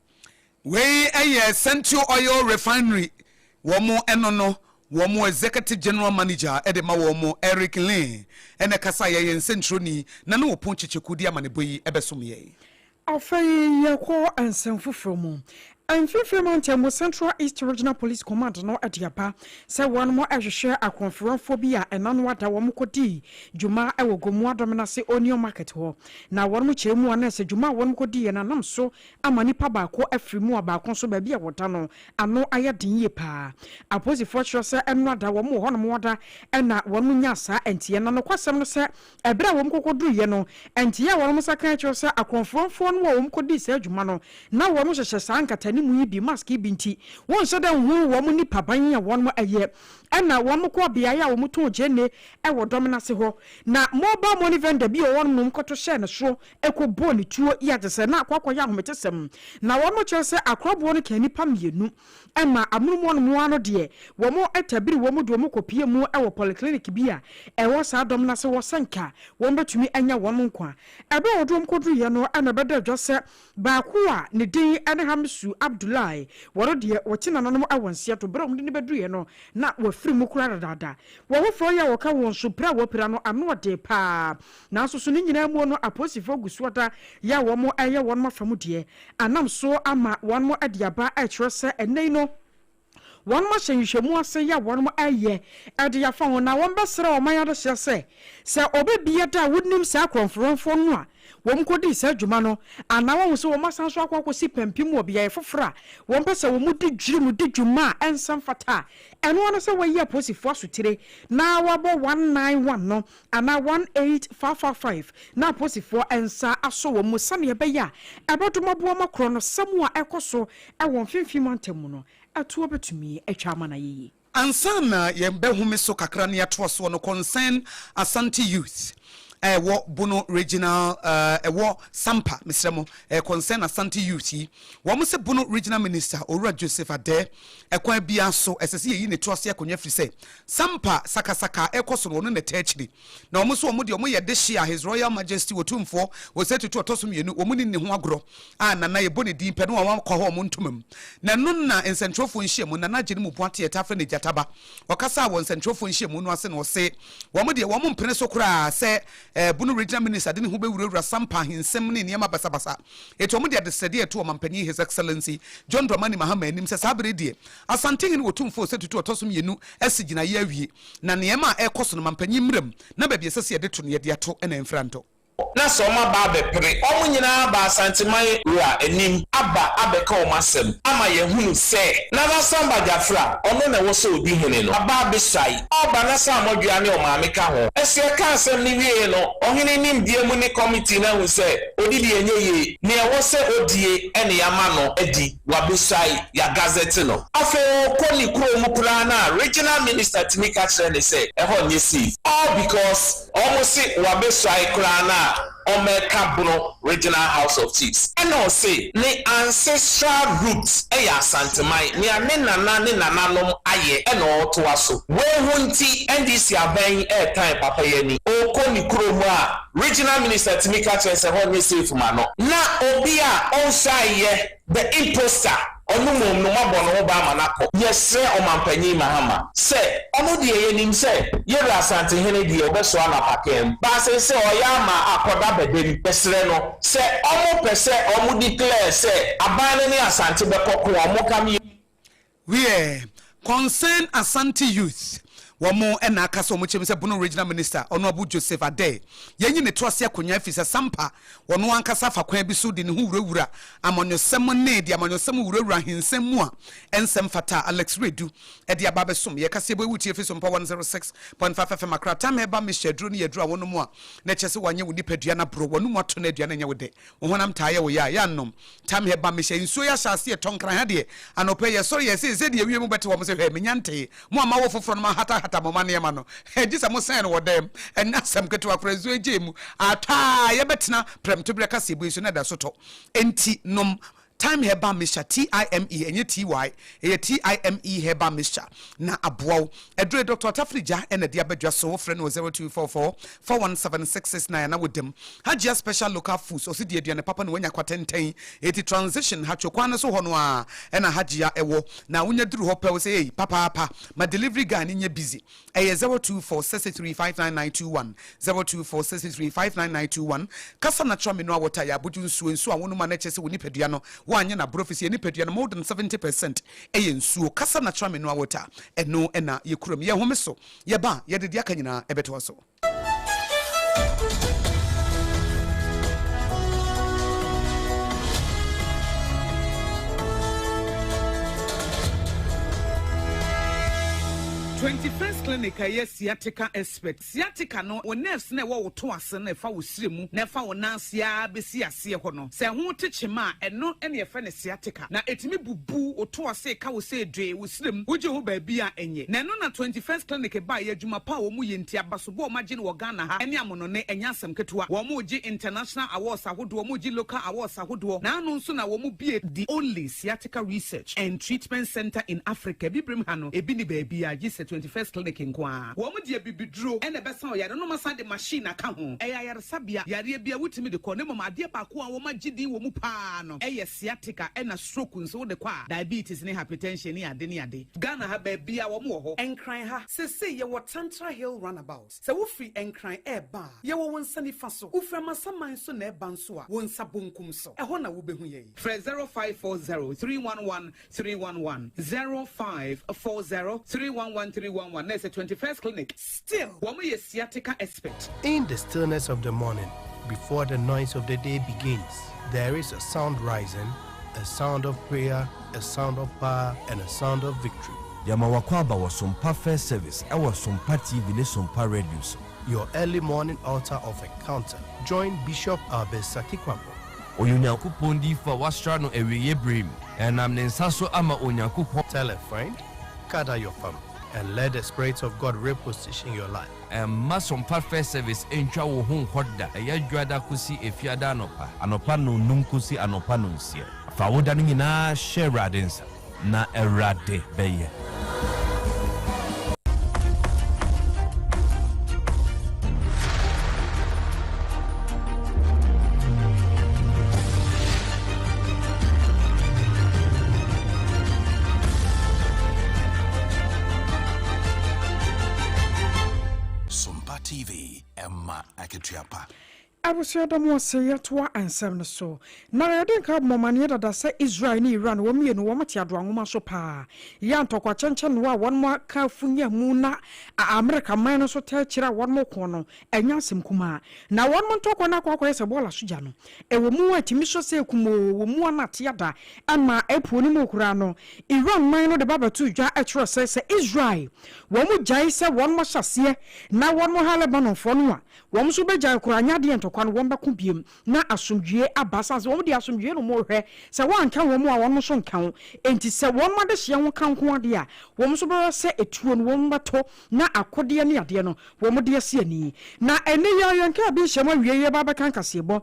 Wei yɛ Sentio Oil Refinery wɔn ɛno no wɔn Executive General Manager de ma wɔn Eric Lin na ɛkasa yɛyɛ nsɛnkyerɛni na ne ɔpon kyekyɛkuo de amanebɔ yi bɛsom yɛn. Afei yɛkɔ nsɛm foforɔ mu. Mfimfini mantam mu Central East Regional Police Command no de aba sɛ wɔn rehwehwɛ akwanfranfoɔ bi a ɛna no ada wɔn kɔ dii dwuma wɔ Gomoa Domina ase Onion Market hɔ na wɔn kyɛɛ mu a na ɛsɛ dwuma a wɔn kɔ diiɛ no anam so ama nipa baako afiri mu a baako nso baabi a wɔda no ano ayɛ den yie paa. Apolisifoɔ kyerɛ sɛ nnora da wɔn wɔ hɔ nom wɔda na wɔn nyaa saa nteɛ. Na nokwasɛm no sɛ ɛberɛ a wɔn kɔkɔ duruiɛ no nteɛ a wɔn nsa kaeɛ kyerɛ sɛ akorɔmforamfoɔ no a wɔn kɔ dii saa adwuma no na wɔn hyehyɛ saa nkatanimu yi bi, mask yi bi nti wɔn nhyɛ da nhunu wɔn nipa ban a wɔn yɛ. Ɛna wɔn kɔɔ beaeɛ a wɔn tɔn gyeene wɔ Dɔmenase hɔ na mobile money vendor bi wɔ hɔ nom kɔto hyɛɛ ne soro kɔ bɔɔ ne tuo yɛ te sɛ na akɔ akɔyɛ ahometesɛm. Na wɔn kyerɛ sɛ akorɔboɔ no kaa nnipa mmienu. Ɛma amonom no mmoa no deɛ, wɔn tabiri wɔn de wɔn kɔ pie mu wɔ polyclinic bi a ɛwɔ saa dɔm no ase hɔ sɛ nka wɔn bɛtumi anya wɔn nkwa. Ɛberɛ a wɔde wɔn kɔduruiɛ no na ɛbɛda adwa sɛ baako a ne din ne Hamisu Abdullahi, wɔn deɛ wɔte nananom wɔ nseɛ to berɛ a wɔde no bɛduruiɛ no na wafiri mu koraa dadaada. Wɔn foforɔ yi a wɔka wɔn so pira a wɔpira no ano ɔdee paa. Nanso so ne nyinaa mu no apolisifoɔ gu soɔ da yɛ a wɔn ɛyɛ wɔn afa mu deɛ anam so ama wɔn de aba ɛkyerɛ sɛ ɛnnɛ yi no wɔn ahyɛ nhwehwɛmu ase yɛ a wɔn ɛyɛ ɛde afa ho na wɔn bɛsrɛ ɔman adehyeɛ sɛ sɛ ɔbɛ bia da a wonim saa korɔnforoɔnfoɔ no a wɔn kɔ dii saa dwuma no anaa wahu sɛ wɔn asan so akɔ akɔ si pampim wɔ beaeɛ foforɔ a wɔn pɛ sɛ wɔn di dwiri mu di dwuma a ɛnsa mfata a ɛno ara ne sɛ wɔayi apolisifoɔ asotire na wɔabɔ one nine one no anaa one eight five five five na apolisifoɔ nsa asɔ wɔn mu sɛdeɛ ɛbɛyɛ a ɛbɛdom aboa ma korɔ no sa mu a ɛrekɔ so wɔ mfimfini mantam mu no toɔ bɛtumi atwa ama no ayɛ yie. Ansa na yɛn bɛhome so kakra na yɛatoa soɔ no, Concern Asante Youth a ɛwɔ Bono Regional ɛwɔ Sampa, mesrɛ mo, ɛyɛ Concern Asante Youth yi, wɔn se Bono Regional Minister Owura Joseph Adeh, ɛkwan biara so ɛsɛ sɛ yɛyi ne to ase akonnwa firi sɛ Sampa sakasaka a ɛkɔ so no, wɔn na ɛtaa akyiri. Na wɔn nso wɔn deɛ, wɔyɛ dehye a His Royal Majesty Otumfoɔ Osei Tutu Ɔtɔso Mmienu, wɔn nni ne ho agorɔ a Nana yɛbɔ ne din pɛ no a wɔakɔ hɔ a wɔn ntoma mu. Na ɛno na nsɛntwerɛfoɔ nhyiamu, Nana Agyenim Boate a yɛtaa frɛ no Gyata Ba, ɔkasaa wɔ nsɛntwerɛfoɔ nhyiamu no ase na ɔse wɔn deɛ, wɔn mpene so koraa sɛ Bono Regional Minister de ne ho bɛwurawura Sampa ahinsɛm ne nneɛma basabasa. Enti wɔn de adesrɛdeɛ reto Ɔmampanin His Excellency John Dramani Mahama anim sɛ saa berɛ yi deɛ, Asantehene Otumfuo Osei Tutu a ɔtɔ so mmienu asi gyinaeɛ awie, na nneɛma a ɛrekɔ so no, mampanyin mmra mu na baabi a ɛsɛ sɛ yɛde to no, yɛde ato na ɛmfra ntɔ. na sɛ wɔaba abɛpere wɔn nyinaa aba Asanteman Wura anim aba abɛka wɔn asɛm ama yɛahunu sɛ Nana Samba Gyafra, ɔno na ɛwɔ sɛ ɔdi hene no, aba abɛsuae. Ɔba na sɛ Amɔdwea ne Ɔmaame ka ho. Ɛso ɛka asɛm no wieeɛ no, ɔhene nimdeɛ mu ne kɔmitee no ahu sɛ ɔde deɛ ɛnyɛ yie, nea ɛwɔ sɛ ɔdie na yɛama no adi. wɔabesuae, wɔagazette no. Afei ɔkɔ ne kurow mu koraa no a, regional minister tumi ka kyerɛ no sɛ, ɛhɔ nyɛ safe. All because wɔse wɔabesuae koraa no a, wɔreka Bono Regional House of Chiefs. Ɛna ɔse ne ancestral root yɛ Asanteman, nea ne nana ne nananom ayɛ na ɔretoa so. Wei ho nti, NDC aban yi retan papa yi ani. Ɔkɔ ne kurow mu a, Regional minister tumi ka kyerɛ sɛ hɔ nyɛ safe ma no. Na obi a ɔnhwɛae yɛ the imposter, ɔno mmom no moabɔ ne ho ban ma no akɔ. Yɛsrɛ Ɔmanpanyin Mahama sɛ ɔno deɛ yɛnim sɛ Yɛwura Asantehene deɛ ɔbɛsoa no apakaa mu, baa seesei ɔreyɛ ama akɔda bɛdam, yɛsrɛ no sɛ wɔpɛ sɛ wɔdeclare sɛ aban no ne Asante bɛkɔ ko a wɔnka me. Wiɛ, Concern Asante Youth, wɔn na aka sɛ wɔkyerɛ mu sɛ Bono Regional Minister, Honourable Joseph Adeh, yɛnyi ne to ase akonyan efisɛ Sampa, ɔno ankasa afa kwan bi so de ne ho wurawura amanyɔsɛm ne de amanyɔsɛm wurawura ahinsɛm mu a ɛnsɛ mfata a Alex Redu de aba abɛsom yɛn kaseɛbɔ yi wo tie fi so mpa 106.5 FM Accra Time Herbal Mixture aduro no yɛ aduro a wonom a na ɛkyerɛ sɛ wanyɛ wo nipadua no aboro w'anom ato na aduane nyɛ wo dɛ Wo honam taa yɛ wo ya a, yɛannom. Tamyɛ ba, mehyɛ nsuo yi ahyɛase yɛ tɔnkran ha deɛ. Anɔpa yi, yɛsɔre yɛ sei sɛdeɛ awiei mobɛte wɔ mo se, 'Hwɛ, menya ntee. Mo a moawo foforɔ no, moahatahata mo mma nneɛma no. Hɛ, gye sɛ mosɛn no wɔ dan mu. Ɛnyɛ asɛm ketewa koraa, nsuo yi gyee mu. Atɔ a, yɛbɛtena prɛmtoberɛ kaseɛbue so na ɛda so tɔ. Enti, nom, Thyme herbal mixture, T-y-m-e, ɛnyɛ T-y, ɛyɛ T-y-m-e herbal mixture na aboa wo. Aduro yi, Doctor Otafiri Jah na ɛde aba dwa so. Wofrɛ no wɔ zero two four four four one seven six six nine a na woda mu. Hajia Special Local Foods, ɔse di aduane papa na woanya kwa tenten. Eti Transition, Hatcho kwan no so hɔ no ara na Hajia wɔ. Na wonya duru hɔ pɛ, wose ei, papaapa, ma delivery guy no nyɛ busy. Ɛyɛ zero two four six six three five nine nine two one, zero two four six six three five nine nine two one. Kasa na kyerɛ me no a wɔtaa yɛ abodwo nsuo, nsuo a wonom a na ɛkyerɛ sɛ wo nipadua no woanyɛ no abrɛ ɛfiri sɛ yɛn nipadua no more than seventy percent yɛ nsuo. Kasa na kyerɛ me no a wɔtaa, ɛno na yɛkura mu. Yɛhome so, yɛba a, yɛde deɛ aka nyinaa ɛbɛtoa so. Twenty First Clinic a ɛyɛ sciatica expert. Sciatica no, wo nerves no a ɛwɔ wo to ase no a ɛfa wo srɛ mu na ɛfa wo nan ase ara bɛsi aseɛ hɔ no, sɛ ɛho te kyema a, ɛno na yɛfrɛ no sciatica. Na ɛtumi bubu wo to ase ka wo sɛ dwee, wo srɛ mu, wogye ho baabi a ɛnyɛ. Na ɛno na Twenty First Clinic baeɛ, adwuma pa a wɔyɛ nti, abasobɔ a wɔagye no wɔ Ghana ha ne amonone, ɛnyɛ asɛm ketewa. Wɔgye international awards ahodoɔ, wɔgye local awards ahodoɔ, na ano nso na wɔbue The Only Sciatica. Medical Research and Treatment Centre in Africa, Abibirem ha no, ebi nni baabiara gye sɛ Twenty First Clinic nko ara. Wɔde abibiduro na ɛbɛsa ɔyare no ma san de machine aka ho. Ɛyɛ ayaresabea yareɛ bi a wotumi de kɔ, na mmom adeɛ baako a wɔagye din wɔ mu pa ara no yɛ sciatica na stroke nso wode kɔ a, diabetes ne hypertension ne ade ne ade. Ghana ha, baabiara wɔwɔ hɔ. Nkran ha, seesei yɛwɔ Tantra Hill Runabout. Sɛ wofiri Nkran reba a, yɛwɔ wo nsa nifa so. Wofiri Amasaman so na ɛreba nso a, wo nsa bonkum so. Ɛhɔ na wobɛhu yɛn. Frɛ 0540 311 311, 0540 311 311, na ɛsɛ Twenty First Clinic. Still, wɔyɛ sciatica expert. In the stillness of the morning, before the noise of the day begins, there is a sound rising, a sound of prayer, a sound of power and a sound of victory. Yɛma w'akwaaba wɔ Sompa First Service ɛwɔ Sompa TV ne Sompa Radio so. Your early morning altar of encounter join Bishop Albert Saki-Kwarpo. Ɔyɛ Onyankopɔn diyifo a wɔasra no awieɛ berɛ mu. Ɛnam ne nsa so ama Onyankopɔn. Tell a friend, gather your family and let the Spirit of God reposition your life. Mma Sompa First Service ntwa wo ho nkɔ da, ɛyɛ Dwoada kosi Efiada anɔpa, anɔpa nnɔnnum kosi anɔpa nnɔnsia. Fa wo da no nyinaa hyɛ Awurade nsa, na Awurade bɛyɛ. Sompa TV, ɛma akatua pa. Abusua da mu ase, yɛtoa nsɛm no so. Na yɛde nka abom amaneɛ dada sɛ Israel ne Iran wɔn mmienu wɔn te adoa nwoma so paa. Yɛ a ntɔkwa kyɛnkyɛn noa a wɔn aka afunya mu na a Amerika man no nso taa kyire a wɔn ko no Ɛnyɛ asɛm kumaa na wɔnom ntɔkwa no akɔakɔyɛ sɛ bɔɔla so gya no. Ɛwɔ mu a ɛtumi sɔ sɛ kumoo wɔ mua no atea da ma ɛpuo no mu koraa no. Iran man no de ba bɛtoo dwa kyerɛɛ sɛ sɛ Israel wɔnom gyae sɛ wɔnom ahyɛ aseɛ na wɔnom ha Lebanonfoɔ no a, wɔnom nso bɛgyae koraa nyɛ adeɛ ntɔkwa no wɔmmɛko biom na asomdwie aba sane sɛ wɔnom deɛ asomdwie nom rehwɛ sɛ wɔanka wɔnom a wɔnom nso nka ho enti sɛ wɔnom adehyeɛ ho ka nko ara deɛ a wɔnom nso bɛwɛ sɛ ɛtuo no wɔnom bɛto na akodeɛ ne adeɛ no wɔn de asi ani. Na ɛnnɛ yi ara yɛnkaa bi nhyiamu awiei yi reba abɛka nkaseɛbɔ.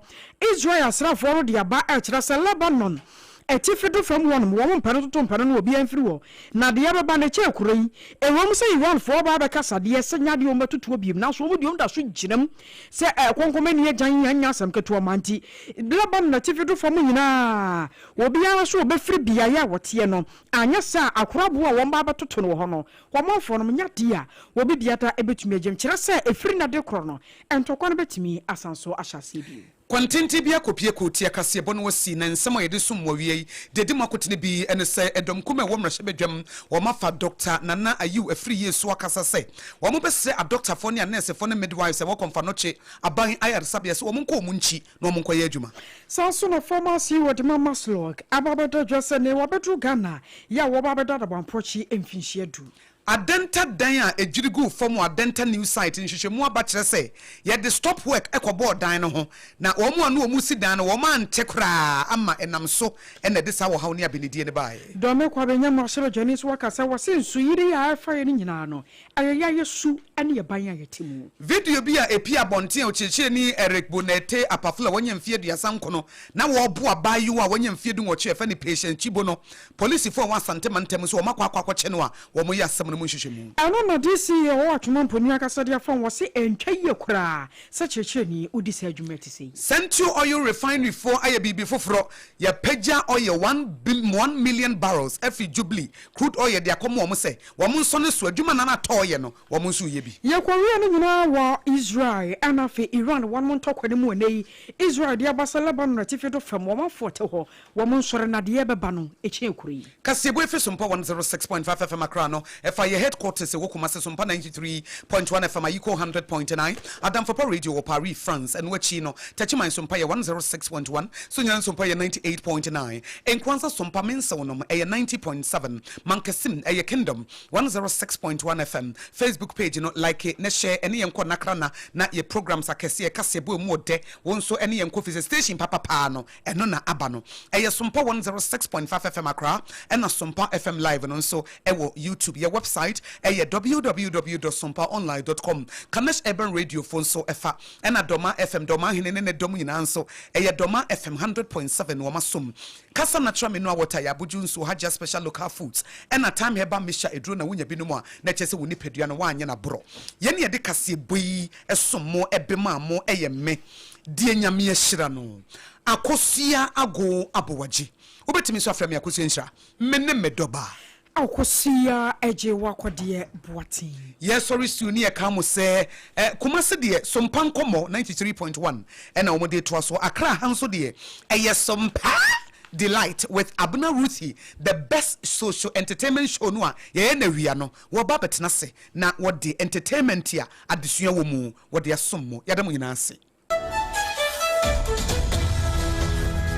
Israel asraafoɔ no de aba rekyerɛ sɛ Lebanon atifi do fam hɔnom wɔn mpɛ no toto mpɛ no na obiara mfiri hɔ. Na deɛ ɛbɛba no ɛkyɛɛ kuro yi. Ɛwom sɛ Iranfoɔ aba abɛkasa deɛ sɛ nyɛ adeɛ a wɔbɛtotoɔ bio nanso wɔn deɛ wɔda so gyinam sɛ konkomanni agyan yi ɛnyɛ asɛm ketewa ma nti Lebanon atifi do fam nyinaa obiara nso ɔbɛfiri beaeɛ a wɔteɛ no anyɛ saa a akoraboɔ a wɔba abɛtoto no wɔ hɔ no Wɔn manfoɔ nom nya dii a, wɔbi biada bɛtumi agyam, kyerɛ sɛ ɛfiri nna de korɔ no, ntɔkwa no bɛtumi asan so ahyɛ aseɛ bio. Kwantenten bi akɔpue koo tia kaseɛbɔ no wɔsi na nsɛm a yɛde som wɔ wiei de di mu akotene bi ne sɛ ɛdɔm kumaa a ɛwɔ mmarahyɛbadwam wɔn afa Dɔkta Nana Ayew Afriyie so akasa sɛ wɔn bɛsrɛ adɔktafoɔ ne anɛɛsefoɔ ne midwives a ɛwɔ Kɔmfannɔkye aban ayaresabea sɛ wɔn nkɔ wɔn nkyi na wɔnkɔyɛ adwuma. Saa nso na Pharmacy yi wɔde ma Maslog aba abɛda dwa sɛ nea wɔabɛduru Ghana yɛ a wɔba abɛda Adaboampɔkye mfinhyia du. Adenta dan a edwiri guu fam wɔ Adenta New Site nhwehwɛmu aba kyerɛ sɛ yɛde stop work kɔbɔɔ dan no ho, na wɔn a na wɔresi dan no wɔante koraa ama ɛnam so na ɛde saa ɔhaw ne abenedie no baeɛ. Dormekwa Benyamu Ahyɛbadwani nso aka sɛ wɔse nsuyiri a ɛrefa yɛn no nyinaa no Ɛyɛ yɛn su ne yɛn ban a yɛte mu. Video bi a epue abɔnten a Okyerɛkyerɛni Eric Bonette Apaful a wanya mfe aduasa nkron na wɔreboa abaayewa a wanya mfe dunwɔtwe a yɛfrɛ no Patience Chibo no, polisifo a wɔwɔ Asante mantam mu sɛ wɔakɔ akɔ akɔkyɛ no a wɔyɛ asɛm no mu nhwehwɛmu. Ɛno na DCA Howard Twoma Mponi ankasa de afam, ɔse ɛntwa yie koraa sɛ kyerɛkyerɛni wodi saa adwuma a ɛte sɛ yi. Sentio Oil Refinery foɔ ayɛ biribi foforɔ, yɛapagya oil one one million barrels afiri Jubilee crude oil de akɔma wɔn sɛ wɔn nso ne so adwuma na na Tor yɛ no, wɔn nso reyɛ bi. Yɛkɔwiee ne nyinaa wɔ Israel ɛna afei Iran wɔnom ntɔkwa no mu ɛnɛ yi Israel de aba sɛ Lebanon atifi do fam wɔn afoɔ te hɔ wɔn nso renadeɛ ɛbɛba no ɛkyɛn kuro yi. Kaseɛbue efi Sompa 106.5 FM Accra no ɛfa yɛ headquarters ɛwɔ Kumasi Sompa 93.1 FM Ayiko 100.9 Adamfapɔ Radio wɔ Paris France ɛno akyi no Techiman Sompa yɛ 106.1 Sunyani Sompa yɛ 98.9 Nkoansa Sompa Mensew nom ɛyɛ 90.7 Mankasim, ɛyɛ Kingdom one zero six point one FM Facebook page no like na share ɛne yɛn nkɔ nakrana na yɛ programs akɛseɛ kaseɛ boa mu ɔdɛ wo nso ɛne yɛn nkɔ fisɛ station papa paa no ɛno na aba no ɛyɛ Sompa one zero six point five FM Accra ɛna Sompa FM live no nso ɛwɔ YouTube yɛ website ɛyɛ www dot sompa online dot com Kanesh Urban Radio fo nso ɛfa ɛna Dɔma FM Dɔma hene ne ne dɔm nyinaa nso ɛyɛ Dɔma FM hundred point seven wɔn asom Kasa na tra menu a wɔtaa yɛ abodwo nsuo Hajia special local foods ɛna Time herbal mixture aduro na wonya binom a na ɛkyerɛ sɛ wo nipadua no woanyɛ no aborɔ Yɛn na yɛde kaseɛbɔ yi som mo ɛbe maa mo ɛyɛ me deɛ Nyame ahyira no Akosua Ago Abowagye Wobɛtumi nso afrɛ me Akosua Nhyira Me ne me dɔbaa. Ao Kosua ɛgye w'akɔdeɛ Boateng. Yɛsɔre siw ne yɛka mo sɛ eh. Kumasi deɛ Sompa nkɔmmɔ ninety three point one na wɔn de retoa so. Accra ha nso deɛ ɛyɛ Sompa Delight with Abena Ruthie the best socio entertainment show no a yɛyɛ no awia no. Wɔba abɛtena ase na wɔde entertainment a adesua wɔ mu wɔde asom mo. Yɛda mo nyinaa ase.